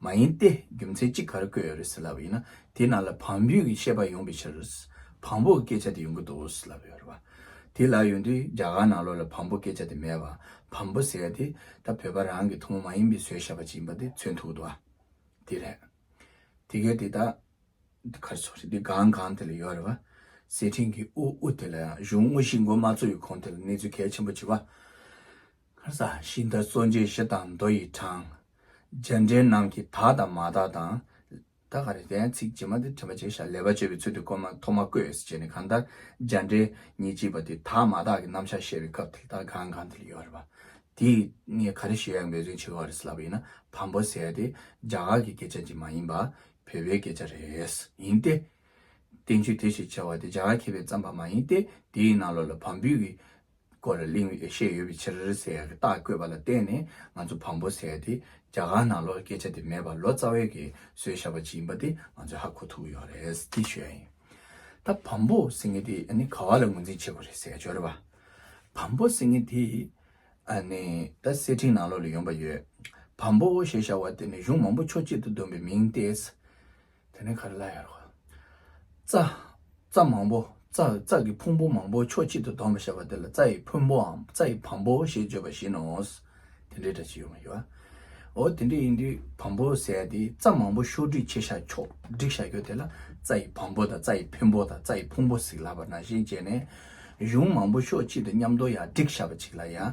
Speaker 1: མ་ཡིན་ཏེ་རྒྱུ་མཚན་གཅིག་གར་བཀོད་ཡོད་རེད་ཟེར་ལབ་པ་ཡིན་ན་དེའི་ནང་ལ་བམ་བུའི་གི་ཤེས་པ་ཡོང་པའི་ཕྱིར། བམ་པོ་གི་སྐད་ཆ་དེ་ཡོང་གི་འདུག་ཟེར་ལབ་ཡོད་རེད་བ། དེ་ལབ་ཡོང་དུས་རྒྱ་གར་ནང་ལོགས་ལ་བམ་པོ་སྐད་ཆ་དེ་མེད་བ། བམ་པོ་ཟེར་ཡ་དེ་ད་བོད་པ་རང་གི་ཐུང་མོ་མ་ཡིན་པའི་བཟོས་བཤད་པ་ཅིག་ཡིན་པ་དེ་མཚོན་ཐུག་འདུག་བ། དེ་རེད། དེ་གས་དེ་དག་འདི་གར་ཚོགས་རེད་དེ་གང་གང་དེ་ལ་ཡོད་རེད་བ། སེར་ཕྲེང་གི་དབུ་དབུ་དེ་ལ་ཡང་གཞུང་དངོས་གཞི་མགོ་མ་ཚོགས་ཡོད་ཁོང་དེ་ལ་གནས་ཚུལ་གལ་ཆེན་པོ་ཅིག་བ། ཁར་ས་གཞི་མཐའ་གཙོ་མཇལ་བཞི་དང་མདོ་ཡི་གྲངས། མཇལ་འཕྲད་རྣམས་ཀྱི་དག་དང་མ་དག་དང། ད་ག་རེ་བསྟན་ཚིག་ཇི་མ་དེ་དྲན་པ་བྱས་ཤ་ལས་པ་བྱས་པའི་ཚུལ་དུ་སྐོར་མ་ཐོ་མ་བཀོད་ཟེར་བྱས་ནས་གང་ལྟར་མཇལ་འཕྲད་ཉིན་གཅིག་པ་དེ་དག་མ་དག་གི་རྣམ་བཞག་བཤད་པའི་སྐབས་ཐིག་དག་གང་གང་དེ་ལ་ཡོད་རེད་པ། དེ་ངས་ག་རེ་ཞུ་ཡག་མེད་རིན་ཆེ་ག་རེ་ཟེར་ལབ་པ་ཡིན་ན་བམ་པོ་ཟེར་ཏེ་རྒྱ་གར་གྱི་སྐད་ཆ་འདི་མ་ཡིན་པ། བོད་པའི་སྐད་ཆ་རེད། ཡིན་ཏེ། བསྟན་བཅོས་དེ་ཞེས་བྱ་བ་དེ་རྒྱ་གར་མཁས་པས་བརྩམས་པ་མ་ཡིན་ཏེ་དེའི་ནང་ལོགས་ལ་བམ་བུས་ཀྱི། སྐོར་ལ་གླེང་ཡོད་ཤེས་ཡོད་པའི་ཕྱིར་ཟེར་གྱི་རྟགས་བཀོད་པ་ལ་བརྟེན་ནས་ང་ཚོ་བམ་པོ་ཟེར་ཏེ་རྒྱ་གར་ནང་ལོར་སྐད་ཆ་དེ་མེད་པར་ལོ་ཙཱ་བས་གི་བཟོས་བཞག་པ་ཅིག་ཡིན་པ་དེ་ང་ཚོས་ཧ་གོ་ཐུབ་ཡོད་རེད་དེ་ཞོལ་ཡིན། ད་བམ་པོ་ཟེར་མཁན་དེ་ནི་ག་བ་ལ་ངོས་འཛིན་བྱེད་དགོས་རེད་ཟེར་གྱི་ཞོར་བམ་པོ་ཟེར་མཁན་དེ་ནི་ད་སེར་ཕྲེང་ནང་ལོར་ལ་ཡོང་པ་ཡོད། བམ་པོ་ཞེས་བྱ་བ་དེ་ནི་གཞུང་མང་པོ་ཕྱོགས་གཅིག་ཏུ་བསྡོམས་པའི་མིང་སྟེ། དེ་ནས་ག་རེ་ལ་ཡོད། རྩ། རྩ་མང་པོ། རྩ། རྩ་གི་ཕུང་པོ་མང་པོ་ཕྱོགས་གཅིག་ཏུ་བསྡོམས་པར་བཤད་པ་དེ་ལ་རྩ་ཡི་ཕུང་པོའམ་རྩ་ཡི་བམ་པོ་ཞེས་བརྗོད་པ་བཞིན་ནོ། དེ་འདྲའི་སྒྲ་ཅི་ཡོད་མ་ཞུ། འོ་དེ་འདྲ་ཡིན་དུས་བམ་པོ་ཟད་དེ་རྩ་མང་པོ་ཕྱོགས་སྒྲིག་བྱེད་བྱ་ཕྱོགས་སྒྲིག་བྱ་རྒྱུ་དེ་ལ་རྩ་ཡི་བམ་པོ་དང་རྩ་ཡི་ཕུན་པོ་དང་རྩ་ཡི་ཕུང་པོ་ཟིག་ལ་བར་ན་བཞིན་བྱས་ནས། གཞུང་མང་པོ་ཕྱོགས་གཅིག་ཏུ་མཉམ་དོ་ཡང་སྒྲིག་བྱ་བ་གཅིག་ལ་ཡང།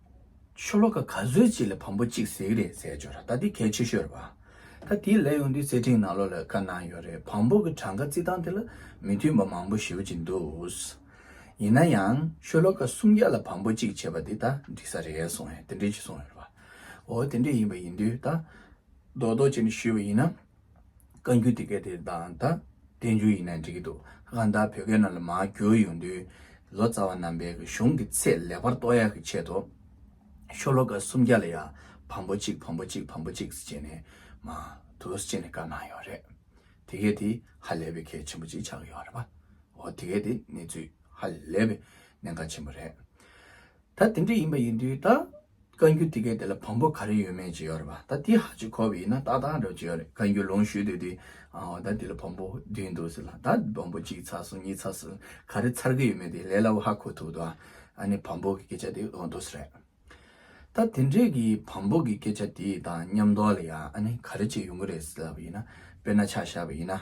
Speaker 1: ཆོ་ལོ་ཀ་ག་ཚོད་ཅིག་ལ་བམ་པོ་གཅིག་ཟེགས་རེད་ཟེར་བྱོས་ར་ད་དེ་གལ་ཆེ་ཤོས་རེད་བ། ད་དེ་ལས་ཡོང་དུས་བརྩེ་འཕྲིན་ནང་ལོ་ལ་ཀ་གནང་ཡོད་རེད་བམ་པོ་གི་གྲངས་ཀ་རྩི་སྟངས་དེ་ལ་མི་མཐུན་པ་མང་པོ་ཞིག་ཅིག་འདུག་ཡིན་ན་ཡང་ཆོ་ལོ་ཀ་སུམ་བརྒྱ་ལ་བམ་པོ་གཅིག་བྱས་པ་དེ་ད་འགྲིག་ས་རེད་གསུངས་ཡོད་དེ་འདྲས་ཅིག་གསུངས་ཡོད་རེད་བ། འོ་དེ་འདྲས་ཡིན་པ་ཡིན་དུས་ད་རྡོག་རྡོག་བྱས་ནས་ཞུས་པ་ཡིན་ན། བཀའ་འགྱུར་དེ་གའི་དེ་དང་ད་བསྟན་འགྱུར་ཡིན་ན་འགྲིག་གི་འདུག་ལྷ་ཁང་དག་བོད་སྐད་ནང་ལ་མ་བསྒྱུར་ཡོང་དུས་ལོ་ཙཱ་བ་རྣམ་པས་གཞུང་གི་ཚད་ལེགས་པར་རྟོགས་ཡག་གི་ཆེད་དུ་ཤོ་ལོ་ཀ་སུམ་བརྒྱ་ལ་ཡང་བམ་པོ་གཅིག་བམ་པོ་གཅིག་བམ་པོ་གཅིག་ཅེས་ནས་མ་དུ་ཅེས་ནས་བཀའ་གནང་ཡོད་རེད། དེ་གའི་དེ་ཧ་ལས་པའི་གལ་ཆེན་པོ་གཅིག་ཆགས་ཡོད་རེད་པ། འོ་དེ་གའི་དེ་གནས་ཚུལ་ཧ་ལས་པའི་གནད་འགག་ཆེན་པོ་རེད། ད་དེ་འདྲ་ཡིན་པ་ཡིན་དུས་ད་བཀའ་འགྱུར་དེ་གའི་དེ་ལ་བམ་པོ་ག་རེ་ཡོད་མེད་ཅེས་ཡོད་རེད་པ་ད་དེ་ཧ་ཅིག་གོ་བས་ཡིན་ན་ཏག་ཏག་འདྲ་བ་ཅིག་ཡོད་རེད་བཀའ་འགྱུར་ལོངས་ཞུས་དེ་དུས་ཨའོ་ད་དེ་ལ་བམ་པོ་བདུན་འདུག་ཟེར་ལ་ད་བམ་པོ་གཅིག་ཚར་སོང་གཉིས་ཚར་སོང་ག་རེ་ཚར་གི་ཡོད་མེད་དེ་ལས་སླ་བོ་ཧ་གོ་ཐུབ་འདུག་ཨ་ནི་བམ་པོ་གི་སྐད་ཆ་དེ་ལོག་འདུག་ཟེར། ད་དེ་འདྲས་ཀྱི་བམ་པོ་གི་སྐད་ཆ་དེ་དང་མཉམ་འདོགས་ལ་ཡང་ཨ་ནི་ག་རེ་བྱས་ཡོང་གི་རེད་ཟེར་ལབ་པ་ཡིན་ན་དཔེར་ན་ཆ་བཞག་པ་ཡིན་ན་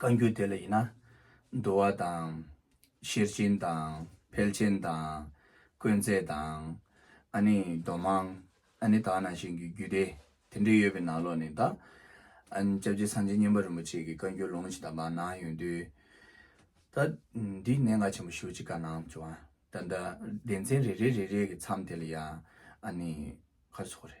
Speaker 1: བཀའ་འགྱུར་དེ་ལ་ཡིན་ན། འདུལ་བ་དང། ཤེར་ཕྱིན་དང། འཕེལ་ཆེན་དང། དཀོན་བརྩེགས་དང། ཨ་ནི་མདོ་སྨྲང། ཨ་ནི་དག་སྣང་བཞིན་གྱི་རྒྱུད་སྡེ་དེ་འདྲས་ཡོད་པའི་ནང་ལོགས་ནས་དང། ྋསྐྱབས་རྗེ་སངས་རྒྱས་བསྙེན་པ་རིན་པོ་ཆེ་གི་བཀའ་འགྱུར་ལུང་ཇི་ལྟ་བ་གནང་ཡོད་དུས། ད་འདི་གནད་འགག་ཆེན་པོ་ཞུ་ཅི་དགའ་གནང་བྱུང་ཨ། ད་ལྟ་སྡེ་ཚན་རེ་རེ་རེ་རེ་གི་མཚམས་དེ་ལ་ཡང་ཨ་ནི་ཁ་སོགས་རེ།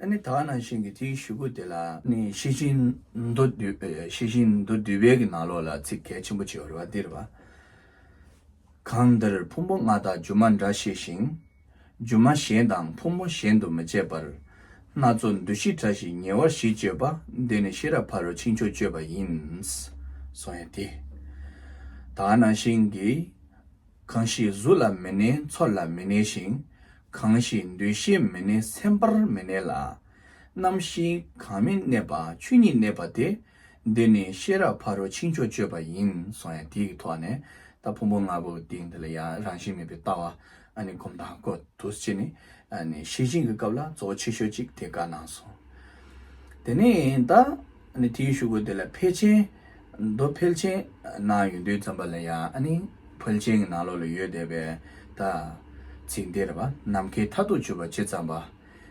Speaker 1: ཨ་ནི་དག་ནང་བཞིན་གྱི་དེའི་བཞུགས་སྐུ་དེ་ལ། ནི་ཤེས་བཞིན་མདོ་སྡུད་བལ་གྱི་ནང་ལོགས་ལ་ཚིག་གལ་ཆེན་པོ་ཆེ་བ་རེ་བ་འདིར་བ། གང་འདིར་ཕུང་པོ་ལྔ་དག་སྒྱུ་མ་འདྲ་ཤེས་ཤིང། སྒྱུ་མ་གཞན་དང་ཕུང་པོ་གཞན་དུ་མི་བྱེད་པར། སྣ་ཚོགས་འདུ་ཤེས་བཀྲ་ཞིང་ཉེ་བར་བཞི་སྤྱོད་པ་འདི་ནི་ཤེས་རབ་ཕ་རོལ་ཕྱིན་ཆོས་སྤྱོད་པ་ཡིན། སོང་ཡང་དེ། དག་ནང་བཞིན་གྱི། གང་ཞིག་གཟུགས་ལ་མི་གནས་ཚོར་ལ་མི་གནས་ཤིང། གང་ཞིག་འདུ་ཤེས་མི་གནས་སེམས་པར་མི་གནས་ལ། རྣམ་ཤེས་གང་མི་གནས་པ་ཆོས་ཉིད་གནས་པ་དེ། འདི་ནི་ཤེས་རབ་ཕ་རོལ་ཕྱིན་ཕྱོགས་སྤྱོད་པ་ཡིན་སོང་ཡང་དེའི་ཐོག་ནས་ད་ཕུང་པོ་ལྔ་པོ་དེ་འདི་ལ་ཡང་རང་བཞིན་མེད་པའི་ལྟ་བ་ཨ་ནི་སྒོམ་དང་ཀོ་དུས་ཅི་ནི་ཨ་ནི་ཤེས་བཞིན་གྱི་སྐབས་ལ་གཙོ་བོ་ཆེ་ཤོས་ཅིག་དེ་ག་གནང་སོང། དེ་ནས་ད་ཨ་ནི་དེའི་ཤུགས་ཀོ་དེ་ལ་ཕལ་ཆེན། མདོ་ཕལ་ཆེན་ན་ཡོད་འདོད་ཙམ་པ་ལ་ཡང་ཨ་ནི་ཕལ་ཆེན་གྱི་ནང་ལོགས་ལ་ཡོད་བསྡད་པའི་ད་ཚིག་འདིར་བ་ནམ་མཁའི་མཐའ་དུ་གྱུར་པ་ཇི་ཙམ་པ།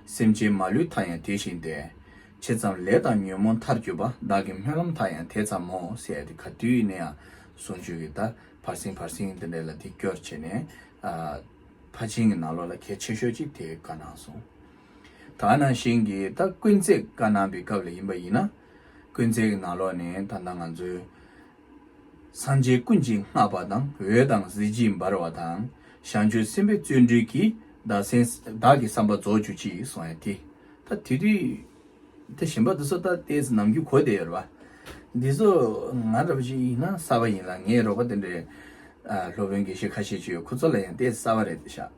Speaker 1: སེམས་ཅན་མ་ལུས་མཐའ་ཡང་དེ་བཞིན་ཏེ། ཇི་ཙམ་ལས་དང་ཉོན་མོངས་མཐར་གྱུར་པ་བདག་གི་སྨོན་ལམ་མཐའ་ཡང་དེ་ཙམ་མོ་ཟེར་ཏེ་ག་དུས་ནས་ཡང་ཟུང་ཆོས་ཀྱི་ད་བར་སིང་བར་སིང་འདི་འདྲ་ལ་དེ་སྐྱོར་བྱས་ནས་ཕ་ཆེན་གྱི་ནང་ལོགས་ལ་གལ་ཆེ་ཤོས་ཅིག་དེ་བཀའ་གནང་སོང། ད་ནང་བཞིན་གྱི་ད་དཀོན་བརྩེགས་བཀའ་གནང་པའི་སྐབས་ལ་ཡིན་པ་ཡིན་ན། ཀུན་བརྩེགས་ཀྱི་ནང་ལོགས་ནས་ད་ལྟ་ང་ཚོའི། སངས་རྒྱས་ཀུན་གྱིས་བསྔགས་པ་དང་འོད་དང་གཟི་བརྗིད་འབར་བ་དང། ཞང་ཆོས་སེམས་དཔའི་བརྩོན་འགྲུས་ཀྱིས་བདག་སེམས། བདག་གི་བསམ་པ་རྫོགས་གྱུར་ཅིག་གསུང་ཡང་དེ། ད་དེ་རི། དེ་ཞིམ་པ་དེ་སོ་ད་ལྟའི་ཟི་ནམ་གྱི་གོ་བདེ་ཡོད་རེད་པ། འདི་སོ། ང་ར་བ་ཞིག་ཡིན་ན་གསར་བ་ཡིན་ལ་ངའི་རོགས་པ་དེ་འདྲའི། སློབ་དཔོན་དགེ་བཤེས་ཁ་ཤས་ཀྱི་ཡོད་ཁོ་ཚོ་ལ་ཡང་ལྟས་གསར་བ་རེད་ཤག།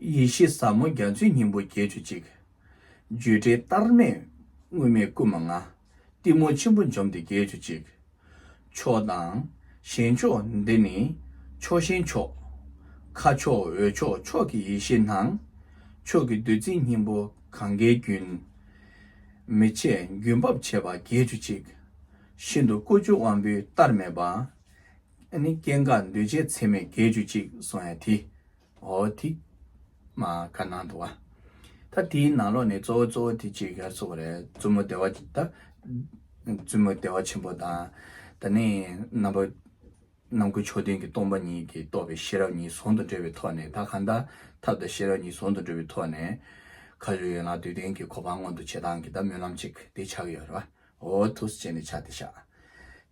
Speaker 1: ཡེ་ཤེས་ཟབ་མོ་རྒྱ་མཚོའི་སྙིང་པོ་བརྒྱད་ཅུ་གཅིག། བརྗོད་བྲལ་བལྟར་མེད་དངོས་མེད་སྐུ་མ་ལྔ། གཏི་མུག་ཆེན་པོ་འཇོམས་ཏེ་བརྒྱད་ཅུ་གཅིག། མཆོག་དང་གཞན་མཆོག་འདི་ནི་ཕྱོགས་ཞེན་མཆོག། མཁའ་མཆོག་འོད་མཆོག་མཆོག་གི་ཡེ་ཤེས་སྣང། མཆོག་གི་བདུད་རྩིའི་སྙིང་པོ་གངྒཱའི་རྒྱུན། མི་ཕྱེད་རྒྱུན་འབབ་བྱེད་པ་བརྒྱད་ཅུ་གཅིག། ཤིན་ཏུ་སྐུ་བཅུ་དབང་པོའི་བལྟར་མེད་པ། ཨ་ནི་སྐྱེ་འགག་འདུས་བྱས་ཚད་མེད་བརྒྱད་ཅུ་གཅིག་སོང་ཡང་དེ། ཨོ་དེ། མ་ག་ནང་དུ་བ། ད་དེའི་ནང་ལོགས་ནས་གཙོ་བོ་གཙོ་བོ་དེ་གཅིག་ག་གཙོ་བོ་རེད་བཙུན་མོ་བདེ་བ་ཆེན་ད། བཙུན་མོ་བདེ་བ་ཆེན་པོ་དང། ད་ནི་རྣམ་པ། རྣམ་ཀུན་ཕྱོགས་མཐུན་གྱི་སྟོང་པ་ཉིད་ཀྱིས་རྟོགས་པའི་ཤེས་རབ་གཉིས་ཟུང་དུ་འབྲེལ་བའི་ཐོག་ནས་ད་གང་དང་ཐབས་དང་ཤེས་རབ་གཉིས་ཟུང་དུ་འབྲེལ་བའི་ཐོག་ནས། ག་ལུས་ཡོད་ན་དུས་གཏན་གྱི་གོ་འཕང་མངོན་དུ་བྱེད་སྟངས་ཀྱི་ད་སྨོན་ལམ་གཅིག་དེ་ཆགས་ཡོད་རེད་བ། འོ་ཐུགས་བསྐྱེད་ནས་ཕྱག་འདི་བཞག།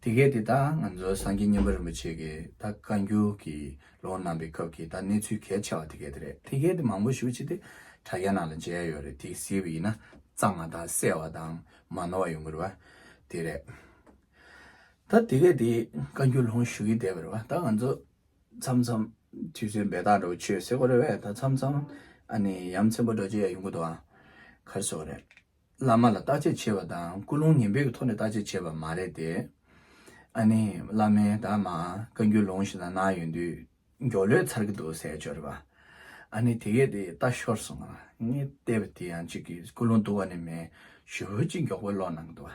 Speaker 1: དེ་སྐད་དེ་དག་ང་ཚོ་སངས་རྒྱས་སྙིང་པོ་རིན་པོ་ཆེ་གི་ད་བཀའ་འགྱུར་གྱི་ལོ་གནང་པའི་སྐབས་ཀྱི་ད་གནས་ཚུལ་གལ་ཆེ་བ་དེ་སྐད་དེ་རེད་དེ་སྐད་དེ་མང་པོ་ཞུ་ཅི་དེ་དྲ་རྒྱ་ནང་ལ་མཇལ་ཡོད་རེད་དེ་གཟིགས་པ་ཡིན་ན་གཙང་མ་དང་གསལ་བ་དང་མ་ནོར་བ་ཡོང་གི་རེད་བ་དེ་རེད། ད་དེ་སྐད་དེ་བཀའ་འགྱུར་ལྷུང་ཞུ་གི་བསྡད་པ་རེད་བ་ད་ང་ཚོ་མཚམས་མཚམས་དུས་ཚོད་འབད་ཐག་འགྲོ་ཆོས་ཟེར་གོ་རེད་བས་ད་མཚམས་མཚམས་ཨ་ནི་ཡ་མཚན་པོ་འགྲོ་ཆོས་ཡ་ཡོང་གི་འདུག་གར་སོང་རེད། བླ་མ་ལ་བརྟག་དཔྱད་བྱེད་པ་དང་ཀུན་སློང་ངན་འབོད་ཀྱི་ཐོག་ནས་བརྟག་དཔྱད་བྱེད་པ་མ་རེད་དེ། ཨ་ནི། བླ་མས་ད་མ་བཀའ་འགྱུར་ལུང་ཞིག་ལ་གནང་ཡོད་དུས་མགྱོགས་ལོད་ཚར་གྱི་འདུག་ཟེར་བྱོས་རེད་པ། ཨ་ནི་དེ་གས་དེ་ལྟ་ཤོར་སོང་ང་ངས་བལྟས་པ་དེ་ཡང་གཅིག་གིས་ཀུན་སློང་བསྡུ་བ་ནི་མེད་ཞུ་བོད་ཀྱི་མགྱོགས་པོའི་ཀློག་གནང་གི་འདུག་བ།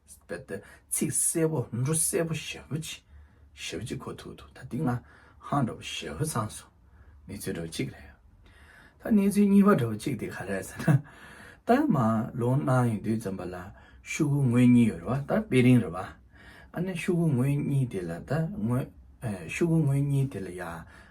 Speaker 1: ཚིག་གསལ་བོ་འབྲུ་གསལ་བོ་ཞབས་བུ་གཅིག་ཞབས་བུ་གཅིག་ཁོ་ཐུག་འདུག་ད་འདི་ང་ཧང་འགྲོ་བོ་ཞབས་བུ་ཚང་སོང་གནས་ཚུལ་འགྲོ་བོ་གཅིག་རེད་ད་གནས་ཚུལ་གཉིས་པ་འགྲོ་བོ་གཅིག་དེ་ག་རེད་ཟེར་ན་ད་མ་ལོ་གནང་ཡོད་དུས་རྩོམ་པ་ལ་ཤུ་གུ་ངོས་གཉིས་ཡོད་རེད་བ་ད་དཔེ་རིང་རེད་བ་ཨ་ནེ་ཤུ་གུ་ངོས་གཉིས་དེ་ལ་ད་ངོས་ཤུ་གུ་ངོས་གཉིས་དེ་ལ་ཡ།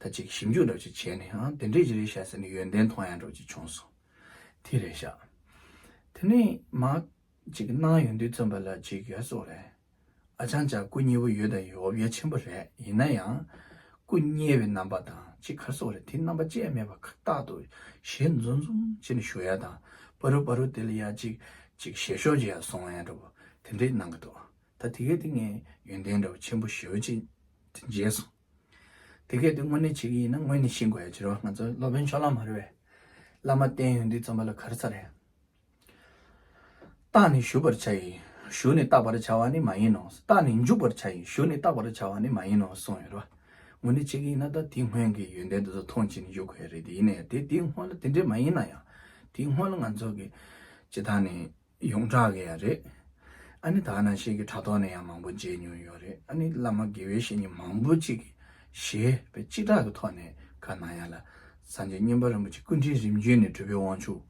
Speaker 1: ད་ཅིག་ཞིབ་འཇུག་འགྲོ་ཅིག་བྱས་ནས་ཨང་དེ་འདྲས་ཅི་རེད་བཤད་ཟེར་ནས་ཡོན་ཏན་མཐོང་ཡང་འགྲོ་ཅིག་བྱུང་སོང། དེ་རེད་བཞག། དེ་ནས་མ། ཅིག་སྣང་ཡོད་འདུག་བཙོན་པ་ལ་ཅིག་ཡོད་སོགས་རེད། ཨ་ཅང་ཅག་སྐུ་མཉེལ་བོ་ཡོད་དང་ཡོད་འོབ་ཡ་ཆེན་པོ་རེད་ཡིན་ན་ཡང། སྐུ་མཉེལ་བའི་རྣམ་པ་དང་ཅིག་གར་སོགས་རེད་དེ་རྣམ་པ་བཅས་མེད་པ་ཁ་བཏགས་དུ་ཞེས་འཛུམ་འཛུམ་བྱས་ནས་ཞུ་ཡ་དང་པ་རུ་པ་རུ་དེ་ལ་ཡ་ཅིག་ཅིག་ཞེས་ཤོག་ཅིག་ཡ་སོང་ཡ་འགྲོ་བོ་དེ་འདྲས་གནང་གི་འདུག་ད་དེ་གས་དེ་ངས་ཡོན་ཏན་འདྲ་བོ་ཆེན་པོ་ཞེ་བོ་ཅིག་མཇལ་སོང། དེ་སྐད་དུ་དངོས་གནས་བྱེད་ཀྱི་ཡིན་ན་དངོས་གནས་ཤེས་དགོས་ཡ་བྱེད་རོགས་ང་ཚོ་སློབ་དཔོན་ཕྱོགས་ལམ་མ་རེད་བས་བླ་མ་བསྟན་ཡོད་འདི་རྩོམ་པ་ལ་ག་རེ་ཚ་རེད། རྟགས་ནི་ཞུ་བར་བྱ་ཡི་ཞུ་ནི་བརྟག་པར་བྱ་བ་ནི་མ་ཡིན་ནོ་རྟགས་ནི་འཇུག་པར་བྱ་ཡི་ཞུ་ནི་བརྟག་པར་བྱ་བ་ནི་མ་ཡིན་ནོ་གསུངས་ཡོད་རེད་བ་དངོས་གནས་བྱེད་ཀྱི་ཡིན་ན་ད་དེའི་སྔོན་གྱི་ཡོན་ཏན་དེ་ཚོ་ཐོངས་ཅི་ནས་ཞུ་དགོས་ཡ་རེད་དེ་ཡིན་ནའི་དེ་དེའི་སྔོན་ལ་དེ་འདྲས་མ་ཡིན་ན་ཡང་དེའི་སྔོན་ལ་ང་ཚོ་གི་ཇི་ཐ་ནས་ཡོངས་གྲགས་ཀྱི་ཡང་རེད། ཨ་ནི་དག་ན་ཤེས་ཀྱི་དྲ་ཐོག་ནས་ཡང་མང་པོ་མཇལ་མྱོང་ཡོད་རེད་ཨ་ནི་བླ་མ་དགེ་བའི་བཤེས་གཉེན་མང་པོ་གཅིག་གིས་ཞེས་པའི་སྤྱི་བསྒྲགས་ཀྱི་ཐོག་ནས་ག་ན་ཡང་ལ་སངས་རྒྱས་བསྙེན་པ་རིན་པོ་ཆེ་སྐུ་དྲིན་རིམ་བརྒྱུད་ནས་གྲུབ་པའི་དབང་ཕྱུག་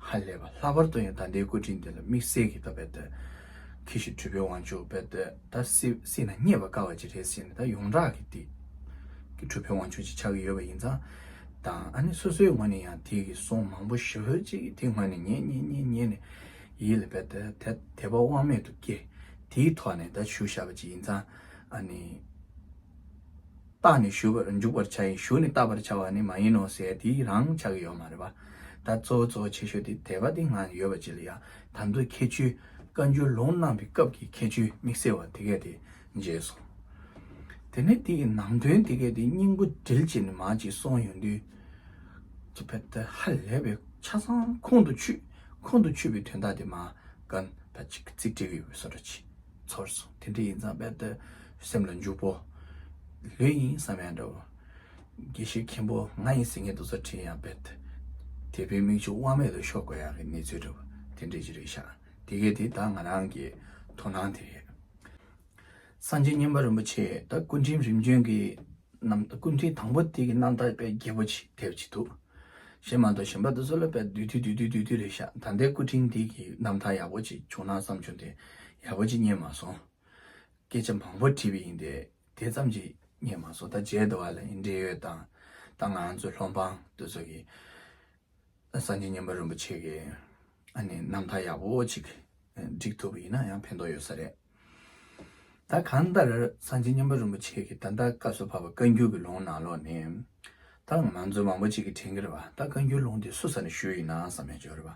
Speaker 1: ཧ་ལས་པ་ལྷག་པར་དུ་ཡང་ད་ལྟའི་སྐུ་དྲིན་དེ་ལ་དམིགས་བསལ་གྱིས་ད་བལྟ་ད་ཁྱི་ཞིག་གྲུབ་པའི་དབང་ཕྱུག་བལྟ་ད་སྲིད་ན་རྙེད་པ་དཀའ་བ་ཅིག་རེད་ཟེར་ནས་ད་ཡོངས་གྲགས་ཀྱི་དེ་གི་གྲུབ་པའི་དབང་ཕྱུག་ཅིག་ཆགས་ཀྱི་ཡོད་པ་ཡིན་ཙང། དང་ཨ་ནི་སོ་སོའི་ངོས་ནས་ཡང་དེ་གི་སོང་མང་པོ་ཞི་ཧོལ་གཅིག་གི་དེ་ངོས་ནས་ཉེ་ཉེ་ཉེ་ཉེ་ནས་ཡིད་ལ་བས་ད་དད་པ་དབང་མེད་དུ་སྐྱེ་དེའི་ཐོག་ནས་ད་ཞུ་བཞག་པ་ཅིག་ཡིན་ཙང་ཨ་ནི། བཏགས་ནས་ཞུ་བར་འཇུག་པར་བྱ་ཡིན་ཞུ་ནས་བཏགས་པར་བྱ་བ་ནི་མ་ཡིན་ནོ་ཟེར་དེའི་རང་ཆགས་ཀྱི་ཡོད་མ་རེད་པ་ད་གཙོ་བོ་གཙོ་བོ་ཆེ་ཤོས་དེ་དད་པ་དེ་ངང་ཡོད་པ་ཅི་ལ་ཡང་དམ་དུ་ཁྱད་ཆོས་བཀའ་འགྱུར་ལུང་གནང་བའི་སྐབས་ཀྱི་ཁྱད་ཆོས་དམིགས་བསལ་བ་དེ་གས་དེ་རྗེས་སུ། དེ་ནས་དེ་ཡི་ནང་དོན་དེ་གས་དེའི་སྙིང་པོ་དྲིལ་ཅིག་ནི་མ་ཅིག་སོང་ཡོང་དུས། ཀྱི་བེ་ཏི་ཧ་ལས་པའི་ཆ་ཚང་ཁོང་དུ་ཆུད། ཁོང་དུ་ཆུད་པའི་དོན་དག་དེ་མ་ཀན་ད་ཅིག་གི་ཚིག་འབྲེལ་བའི་སོ་ར་ཅིག་ཚོར་སོང་དེ་འདྲ་ཡིན་ཙང་བེ་ཏི་སེམས་ལ་འཇུག་པོ། ལོས་ཡིན་བསམ་ཡང་འདྲ་བོ། དགེ་བཤེས་མཁན་པོ་ང་ཡི་ཟིན་ངེ་འདུག་ས་ཁྲིད་ཡང་བེ་ཏི། དེ་བེ་མིག་ཆུ་དབང་མེད་དུ་ཤོར་དགོས་ཡག་གི་གནས་ཚུལ་འདྲ་བོ་དེ་འདྲ་ཅིག་རེད་ཤག་དེ་གས་དེ་ད་ང་རང་གི་དོ་སྣང་དེ་རེད། སངས་རྒྱས་སྙིམ་པ་རིན་པོ་ཆེ་དང་སྐུ་ཕྲེང་རིམ་བྱོན་གྱི་རྣམས་སྐུ་ཕྲེང་དང་པོ་དེ་གི་རྣམ་ཐར་དཔེ་རྒྱས་པོ་ཆེ་དེབ་ཅིག་འདུག་ཞེས་མ་གཏོགས་གཞན་པ་དུ་སོ་ལ་དཔེ་བསྡུས་དུས་དུས་དུས་དུས་རེ་བཞག་ད་ལྟའི་སྐུ་ཕྲེང་དེ་གི་རྣམ་ཐར་ཡག་པོ་ཅིག་བྱུང་ན་བསམ་བྱུང་དེ་ཡག་པོ་ཅིག་རྙེད་མ་སོང། སྐད་ཆ་མང་པོ་དྲིས་པ་ཡིན་ཏེ་དེ་ཙམ་ཅིག་རྙེད་མ་སོང་ད་མཇལ་དུ་བ་ལ་ཡི་འབྲེལ་ཡོད་དང་ད་ང་ཚོའི་སློབ་འབངས་དུ་སོ་གི། སངས་རྒྱས་མཉམ་པ་རིན་པོ་ཆེ་གི་རྣམ་ཐར་ཡག་པོ་ཅིག་བསྒྲིགས་ཐུབ་པ་ཡིན་ན་ཡང་ཕན་ཐོགས་ཡོད་ས་རེད། ད་གང་ལྟར་སངས་རྒྱས་མཉམ་པ་རིན་པོ་ཆེ་གི་ད་ལྟ་བཀའ་སྲོལ་ཕབ་པ་བཀའ་འགྱུར་གྱི་ལུང་ནང་ལོགས་ནས། ད་ང་ཚོ་མང་པོ་ཅིག་གི་དྲན་གྱི་རེད་པ་ད་བཀའ་འགྱུར་ལུང་དེ་སུ་ས་ནས་ཞུས་ཡིན་ནའང་བསམ་ཡང་བྱོས་རེད་པ།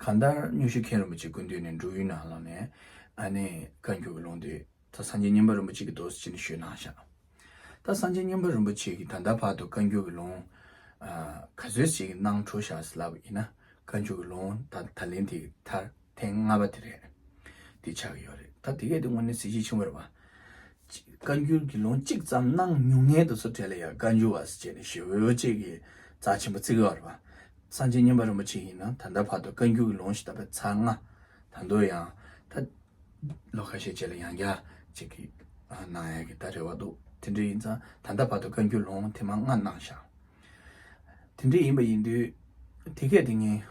Speaker 1: གང་ལྟར་སྙུན་གཞི་མཁན་རིན་པོ་ཆེ་དགོན་དུས་ནས་འབྲུག་ཡུལ་ནང་ལངས་ནས་ཨ་ནེ་བཀའ་འགྱུར་གྱི་ལུང་དེ་ད་སངས་རྒྱས་སྙིམ་པ་རིན་པོ་ཆེ་གི་མདོ་སྤྱི་ནས་ཞུས་གནང་བཞག་ད་སངས་རྒྱས་སྙིམ་པ་རིན་པོ་ཆེ་གིས་ད་ལྟ་བར་དུ་བཀའ་འགྱུར་གྱི་ལུང་ག་ཚོད་ཅིག་གནང་འཕྲོ་བཞག་ཟེར་ལབ་ཡིན་ན་བཀའ་འགྱུར་གྱི་ལུང་ད་ད་ལན་དེ་ཐར་ཐེངས་ལྔ་པ་དེ་རེད་དེ་ཆགས་ཀྱི་ཡོད་རེད་ད་དེ་གས་དེ་དངོས་གནས་གཟི་བརྗིད་ཆེན་པོ་རེད་བ། བཀའ་འགྱུར་གྱི་ལུང་གཅིག་ཙམ་གནང་མྱོང་མཁན་དུ་ཚོ་གྲལ་ལ་ཡ་བཀའ་འགྱུར་བ་ཟེར་བྱས་ནས་ཞེ་འོད་ཅིག་གིས་རྩ་ཆེན་པོ་བརྩིགས་ཡོད་རེད་བ། སངས་རྒྱས་མཉམ་པ་རིན་པོ་ཆེ་ཡིན་ན་ད་ལྟ་བར་དུ་བཀའ་འགྱུར་གྱི་ལུང་ཞིག་བཏབ་པའི་ཚ་རྔ་ད་འདོད་ཡང་ད། ལོ་ཁ་ཤས་རྗེས་ལ་ཡང་བསྐྱར་ཅིག་གི་གནང་ཡག་གི་ད་རེ་བ་འདུག་དེ་འདྲ་ཡིན་ཙང་ད་ལྟ་བར་དུ་བཀའ་འགྱུར་ལུང་དེ་མ་སྔ་གནང་ཞག་དེ་འདྲ་ཡིན་པ་ཡིན་དུས་དེ་གས་དེ་ངས་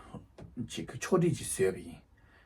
Speaker 1: ཅིག་གི་ཕྱོགས་བསྒྲིགས་ཅིག་བཟོས་པ་ཡིན།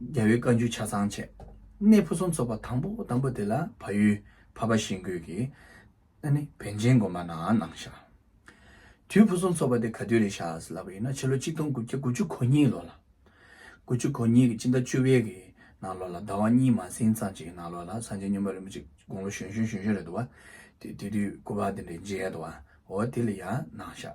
Speaker 1: རྒྱལ་བའི་བཀའ་འགྱུར་ཆ་ཚང་བྱས། གནས་ཕུན་སུམ་ཚོགས་པ་དང་པོ་དང་པོ་དེ་ལ་བ་ཡུལ་བ་པ་ཞིང་ཀོས་ཀྱི། ཨ་ནི་བན་ཆེན་དགོན་པ་ན་གནང་ཞག། དུས་ཕུན་སུམ་ཚོགས་པ་དེ་ག་དུས་རེད་ཤ་ཟེར་ལབ་པ་ཡིན་ན་ཕྱི་ལོ་གཅིག་སྟོང་དགུ་བརྒྱ་དགུ་ཅུ་གོ་གཉིས་ལོ་ལ། དགུ་ཅུ་གོ་གཉིས་ཀྱི་སྤྱི་ཟླ་བཅུ་བའི་གི་ནང་ལོ་ལ་ཟླ་བ་གཉིས་མ་ཟིན་ཙམ་གྱི་ནང་ལོ་ལ་སངས་རྒྱས་སྨྱོན་པ་རིན་པོ་ཆེ་དགུང་ལོ་གཞོན་གཞོན་གཞོན་གཞོན་རེད་འདུག་བ། དེ་དུས་སྐུ་པར་དེ་འདྲའི་མཇལ་དུ་བ་འོ་དེ་ལ་ཡང་གནང་ཞག།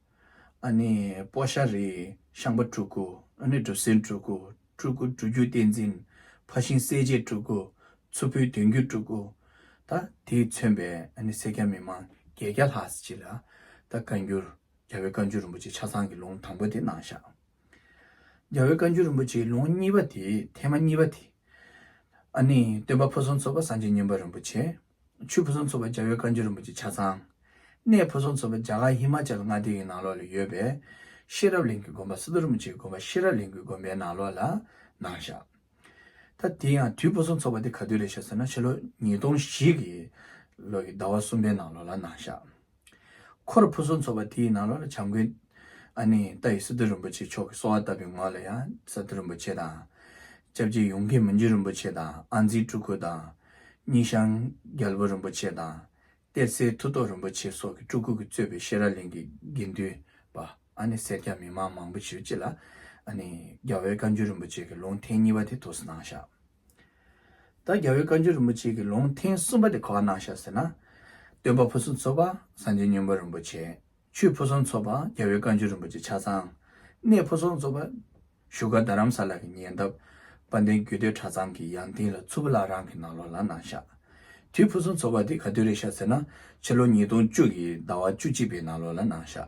Speaker 1: ཨ་ནི་པོ་ཤ་རི་ཤངས་པ་སྤྲུལ་སྐུ་ཨ་ནི་འབྲུ་སེར་སྤྲུལ་སྐུ་སྤྲུལ་སྐུ་སྤྲུལ་བསྒྱུར་བསྟན་འཛིན་ཕ་ཤིང་སྲས་བཅས་སྤྲུལ་སྐུ་མཚུར་ཕུའི་བདུན་བརྒྱུད་སྤྲུལ་སྐུ། ད་དེས་མཚོན་པའི་ཨ་ནི་སེར་སྐྱ་མི་མང་བརྒྱད་བརྒྱ་ལྷག་སྤྱི་ལ། ད་བཀའ་འགྱུར་རྒྱ་བོད་བཀའ་འགྱུར་རིན་པོ་ཆེ་ཆ་ཚང་གི་ལུང་དང་པོ་དེ་ནང་བཞག། རྒྱ་བོད་བཀའ་འགྱུར་རིན་པོ་ཆེའི་ལུང་གཉིས་པ་དེ་ཐེངས་མ་གཉིས་པ་དེ། ཨ་ནི་སྟོན་པ་ཕུན་སུམ་ཚོགས་པ་སངས་རྒྱས་མཉན་པ་རིན་པོ་ཆེ། ཆུ་ཕུན་སུམ་ཚོགས་པའི་རྒྱ་བོད་བཀའ་འགྱུར་རིན་པོ་ཆེ་ཆ་ཚང། གནས་ཕུན་སུམ་ཚོགས་པའི་རྒྱ་གར་ཧི་མ་ཅལ་མངའ་སྡེའི་ནང་ལོགས་ལ་ཡོད་པའི། ཤེས་རབ་གླིང་གི་དགོན་པ་སི་ཏུ་རིན་པོ་ཆེའི་དགོན་པ་ཤེས་རབ་གླིང་གི་དགོན་པའི་ནང་ལོགས་ལ་ནང་བཞག། ད་དེ་ཡང་དུས་ཕུན་སུམ་ཚོགས་པ་དེ་ག་དུས་རེད་ཞེས་ཟེར་ན་ཕྱི་ལོ་ཉིས་སྟོང་བཞི་གི་ལོ་གི་ཟླ་བ་གསུམ་པའི་ནང་ལོགས་ལ་ནང་བཞག། འཁོར་ཕུན་སུམ་ཚོགས་པ་དེའི་ནང་ལོགས་ལ་བྱམས་མགོན། ཨ་ནེ། ཏཱ་ཡི་སི་ཏུ་རིན་པོ་ཆེ་མཆོག་གི་གསོལ་བ་བཏབ་པའི་ངོས་ལ་ཡང་ས་ཏུ་རིན་པོ་ཆེ་དང། ཅབ་ཅེ་ཡུང་གེ་མི་འཇུ་རིན་པོ་ཆེ་དང་ཨ་འཛིའི་སྤྲུལ་སྐུ་དང། གཉིས་ཤང་རྒྱལ་པོ་རིན་པོ་ཆེ་དང། གཏེར་སའི་མཐུ་སྟོབས་རིན་པོ་ཆེ་སོགས་ཀྱི་སྤྲུལ་སྐུ་གི་གཙོས་པའི་ཤེས་རབ་གླིང་གི་དགེ་འདུན་པ་ཨ་ནེ་སེར་སྐྱ་མི་མང་མང་པོ་ཞིག་བཅས་ལ། ཨ་ནེ། རྒྱ་བོད་བཀའ་འགྱུར་རིན་པོ་ཆེ་གི་ལུང་ཐེངས་གཉིས་པ་དེ་ཐོག་སུ་གནང་བཞག། ད་རྒྱལ་བའི་བཀའ་འགྱུར་རིན་པོ་ཆེ་གི་ལུང་ཐེངས་གསུམ་པ་དེ་གོ་བ་གནང་ཤག་ཟེར་ན། སྟོན་པ་ཕུན་སུམ་ཚོགས་པ་སངས་རྒྱས་སྙིང་པོ་རིན་པོ་ཆེ། ཆུ་ཕུན་སུམ་ཚོགས་པ་རྒྱལ་བའི་བཀའ་འགྱུར་རིན་པོ་ཆེ་ཆ་ཚང། གནས་ཕུན་སུམ་ཚོགས་པ། བཞུགས་སྒར་རྡ་རམ་ས་ལ་གི་ཉེ་འདབས། དཔལ་ལྡན་རྒྱུད་སྟོད་གྲྭ་ཚང་གི་ཡང་སྟེང་ལ་ཚུར་བུ་བླ་རང་གི་ནང་ལོགས་ལ་གནང་ཤག། དུས་ཕུན་སུམ་ཚོགས་པ་དེ་ག་དུས་རེད་ཤག་ཟེར་ན། ཕྱི་ལོ་ཉིས་སྟོང་བཅུ་ཡི་ཟླ་བ་བཅུ་གཅིག་པའི་ནང་ལོགས་ལ་གནང་ཤག།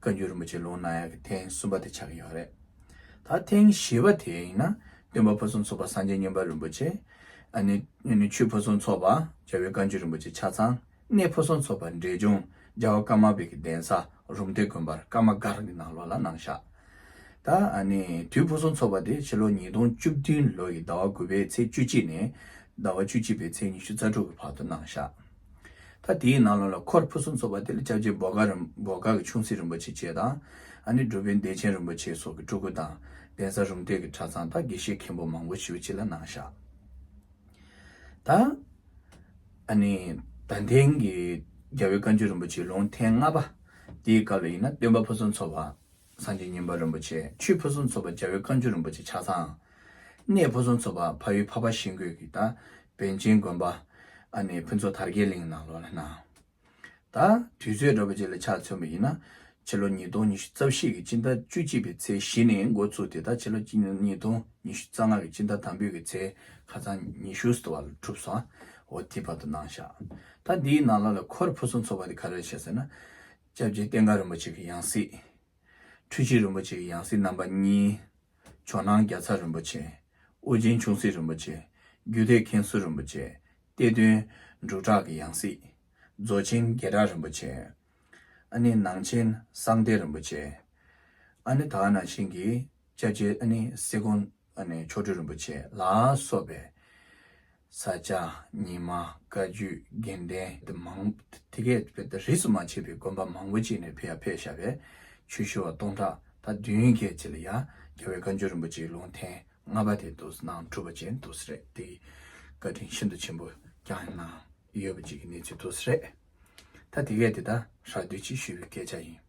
Speaker 1: བཀའ་འགྱུར་རིན་པོ་ཆེ་ལུང་གནང་ཡག་གི་ཐེངས་གསུམ་པ་དེ་ཆགས་ཀྱི་ཡོད་རེད། ད་ཐེངས་བཞི་བ་དེ་ཡིན་ན་སྟོན་པ་ཕུན་སུམ་ཚོགས་པ་སངས་རྒྱས་སྙིང་པ་རིན་པོ་ཆེ། ཆུ་ཕུན་སུམ་ཚོགས་པ་རྒྱལ་བའི་བཀའ་འགྱུར་རིན་པོ་ཆེ་ཆ་ཚང་གནས་ཕུན་སུམ་ཚོགས་པ་འབྲས་ལྗོངས་རྒྱལ་བ་ཀརྨ་པའི་གི་གདན་ས་རུམ་བཏེག་དགོན་པར་ཀརྨ་སྒར་གྱི་ནང་ལོགས་ལ་གནང་བཞག་ད། དུས་ཕུན་སུམ་ཚོགས་པ་དེ་ཕྱི་ལོ་ཉིས་སྟོང་བཅུ་བདུན་ལོ་ཡི་ཟླ་བ་དགུ་པའི་ཚེས་བཅུ་གཅིག་ནས་ཟླ་བ་བཅུ་གཅིག་པའི་ཚེས་ཉི་ཤུ་རྩ་དྲུག་གི་བར་དུ་གནང་བཞག། ད་དེའི་ནང་ལོགས་ལ་འཁོར་ཕུན་སུམ་ཚོགས་པ་དེ་ལ་ཅབ་ཅེ་འབོ་དགའ་རིན་འབོ་དགའ་གི་ཆུང་སྲིད་རིན་པོ་ཆེ་བཅས་དང། ཨ་ནི་སྒྲུབ་པའི་བདེ་ཆེན་རིན་པོ་ཆེ་སོགས་ཀྱི་སྤྲུལ་སྐུ་དང། གདན་ས་རུམ་གཏེར་གྱི་གྲྭ་ཚང་དང་དགེ་བཤེས་མཁན་པོ་མང་པོ་ཞུ་བྱེད་ལ་གནང་བཞག་དང། ཨ་ནི། ད་དེང་གི་རྒྱལ་བའི་བཀའ་འགྱུར་རིན་པོ་ཆེའི་ལུང་ཐེངས་ལྔ་པ། དེའི་སྐབས་ལ་ཡིན་ན་སྟོན་པ་ཕུན་སུམ་ཚོགས་པ། སངས་རྒྱས་སྙིང་པོ་རིན་པོ་ཆེ་ཆུའི་ཕུན་སུམ་ཚོགས་པ་རྒྱལ་བའི་བཀའ་འགྱུར་རིན་པོ་ཆེ་ཆ་ཚང། གནས་ཕུན་སུམ་ཚོགས་པ་ཕ་ཡུལ་ཕ་བ་ཤིང་རྒོད་ཀྱི་ད་བན་ཆེན་དགོན་པ། ཨ་ནེ་ཕུན་ཚོགས་དར་རྒྱས་གླིང་ནང་ལོགས་ལ་སྣང། ད་དུས་ཚོད་སྒྲོལ་པ་རྗེ་ལ་ཕྱག་མཚོན་པ་ཡིན་ན། ཕྱི་ལོ་ཉིས་སྟོང་ཉི་ཤུ་རྩ་བཞི་གི་སྤྱི་ཟླ་བཅུ་གཅིག་པའི་ཚེས་བཞི་ནས་འགོ་བཙུགས་ཏེ་ད་ཕྱི་ལོ་ཉིས་སྟོང་ཉི་ཤུ་རྩ་ལྔ་གི་སྤྱི་ཟླ་དང་པོའི་གི་ཚེས་ཁ་ཚང་ཉི་ཤུ་སྟེ་བ་ལ་གྲུབ་སོང་བོ་དེའི་བར་དུ་སྣང་བཞག། ད་འདིའི་ནང་ལོགས་ལ་འཁོར་ཕུན་སུམ་ཚོགས་པ་དེ་ག་རེ་བྱེད་ཟེར་ན། སྐྱབས་རྗེ་བསྟན་དགའ་རིན་པོ་ཆེ་གི་ཡང་སྲིད། འཕྲུལ་ཆེན་རིན་པོ་ཆེ་གི་ཡང་སྲིད་རྣམ་པ་གཉིས། ཇོ་ནང་རྒྱ་ཚ་རིན་པོ་ཆེ། དབུ་ཅན་ཆུང་སྲིད་རིན་པོ་ཆེ། རྒྱུད་སྡེ་མཁན་ཟུར་རིན་པོ་ཆེ། གཏེར་སྟོན། འབྲུག་གྲགས་ཀྱི་ཡང་སྲིད། རྫོགས་ཆེན་རྒྱལ་གྲགས་རིན་པོ་ཆེ། ཨ་ནི་ནང་ཆེན་གསང་བདེ་རིན་པོ་ཆེ། ཨ་ནི་དག་སྣང་ཆེན་གྱི་སྐྱབས་རྗེ་ཨ་ནི་སེ་གོང་ཨ་ནི་མཆོག་སྤྲུལ་རིན་པོ་ཆེ་ལ་སོགས་པའི། ས་སྐྱ་ཉི་མ་བཀའ་བརྒྱུད་དགེ་ལྡན་དེ་མང། དེ་གས་དཔེ་ད་རིས་སུ་མ་བྱས་པའི་དགོན་པ་མང་པོ་ཅིག་ནས་ཕེ་ཡ་ཕེ་ཤ་བས་ཆོས་ཞུ་བ་སྟོང་ཕྲག་དང་བདུན་བརྒྱད་ཅིག་ལ་ཡ་རྒྱ་བའི་བཀའ་འགྱུར་རིན་པོ་ཆེའི་ལུང་ཐེངས་ལྔ་པ་དེ་འདུག་ནང་གྲུབ་པ་ཅན་འདུག་ས་རེད་དེ་ཡི་བཀའ་དྲིན་ཤིན་ཏུ་ཆེན་པོ་བསྐྱངས་ཡོད་ནའང་ཡོད་པ་ཅིག་གི་གནས་ཚུལ་འདུག་ས་རེད་ད་དེ་གས་དེ་ད་རག་དུས་གཅིག་ཞུས་པའི་སྐད་ཆ་ཡིན།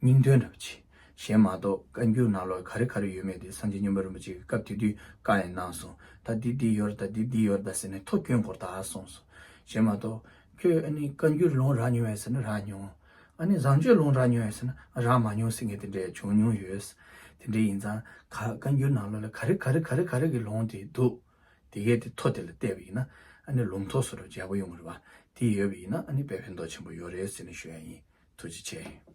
Speaker 1: སྙིང་དོན་འདྲ་བ་ཆེ། གཞན་མ་གཏོགས་བཀའ་འགྱུར་ནང་ལོགས་ག་རེ་ག་རེ་ཡོད་མེད་དེ་སངས་རྒྱས་སྙིང་པོ་རིན་པོ་ཆེ་གི་སྐབས་དེ་དུས་བཀའ་ཡང་གནང་སོང། ད་འདི་འདི་ཡོད་རེད་ད་འདི་འདི་ཡོད་རེད་ད་ཟེར་ནས་ཐོ་སྐྱོན་སྐོར་དག་གསུངས་སོང། གཞན་མ་གཏོགས། ཁྱོད་ཨ་ནི་བཀའ་འགྱུར་ལོངས་རག་མྱོང་ཡོད་ཟེར་ན་རག་མྱོང། ཨ་ནི་བཟང་སྤྱོད་ལོངས་རག་མྱོང་ཡོད་ཟེར་ན་རག་མ་མྱོང་ཟེར་མཁན་དེ་འདྲས་བྱུང་མྱོང་ཡོད། དེ་འདྲས་ཡིན་ཙང། བཀའ་འགྱུར་ནང་ལོགས་ལ་ག་རེ་ག་རེ་ག་རེ་ག་རེ་གི་ལོངས་དེ་འདུག། དེ་གས་དེ་ཐོ་དེ་ལ་བལྟས་པ་ཡིན་ན་ཨ་ནི་ལུང་ཐོ་སོ་རབ་འཇལ་པོ་ཡོང་གི་རེད་པ་དེ་ཡོད་པ་ཡིན་ན་ཨ་ནི་དཔེ་ཕན་ཐོག་ཆེན་པོ་ཡོད་རེད་ཟེར་ནས་ཞུ་ཡ་ཡིན་ཐུགས་རྗེ་ཆེ།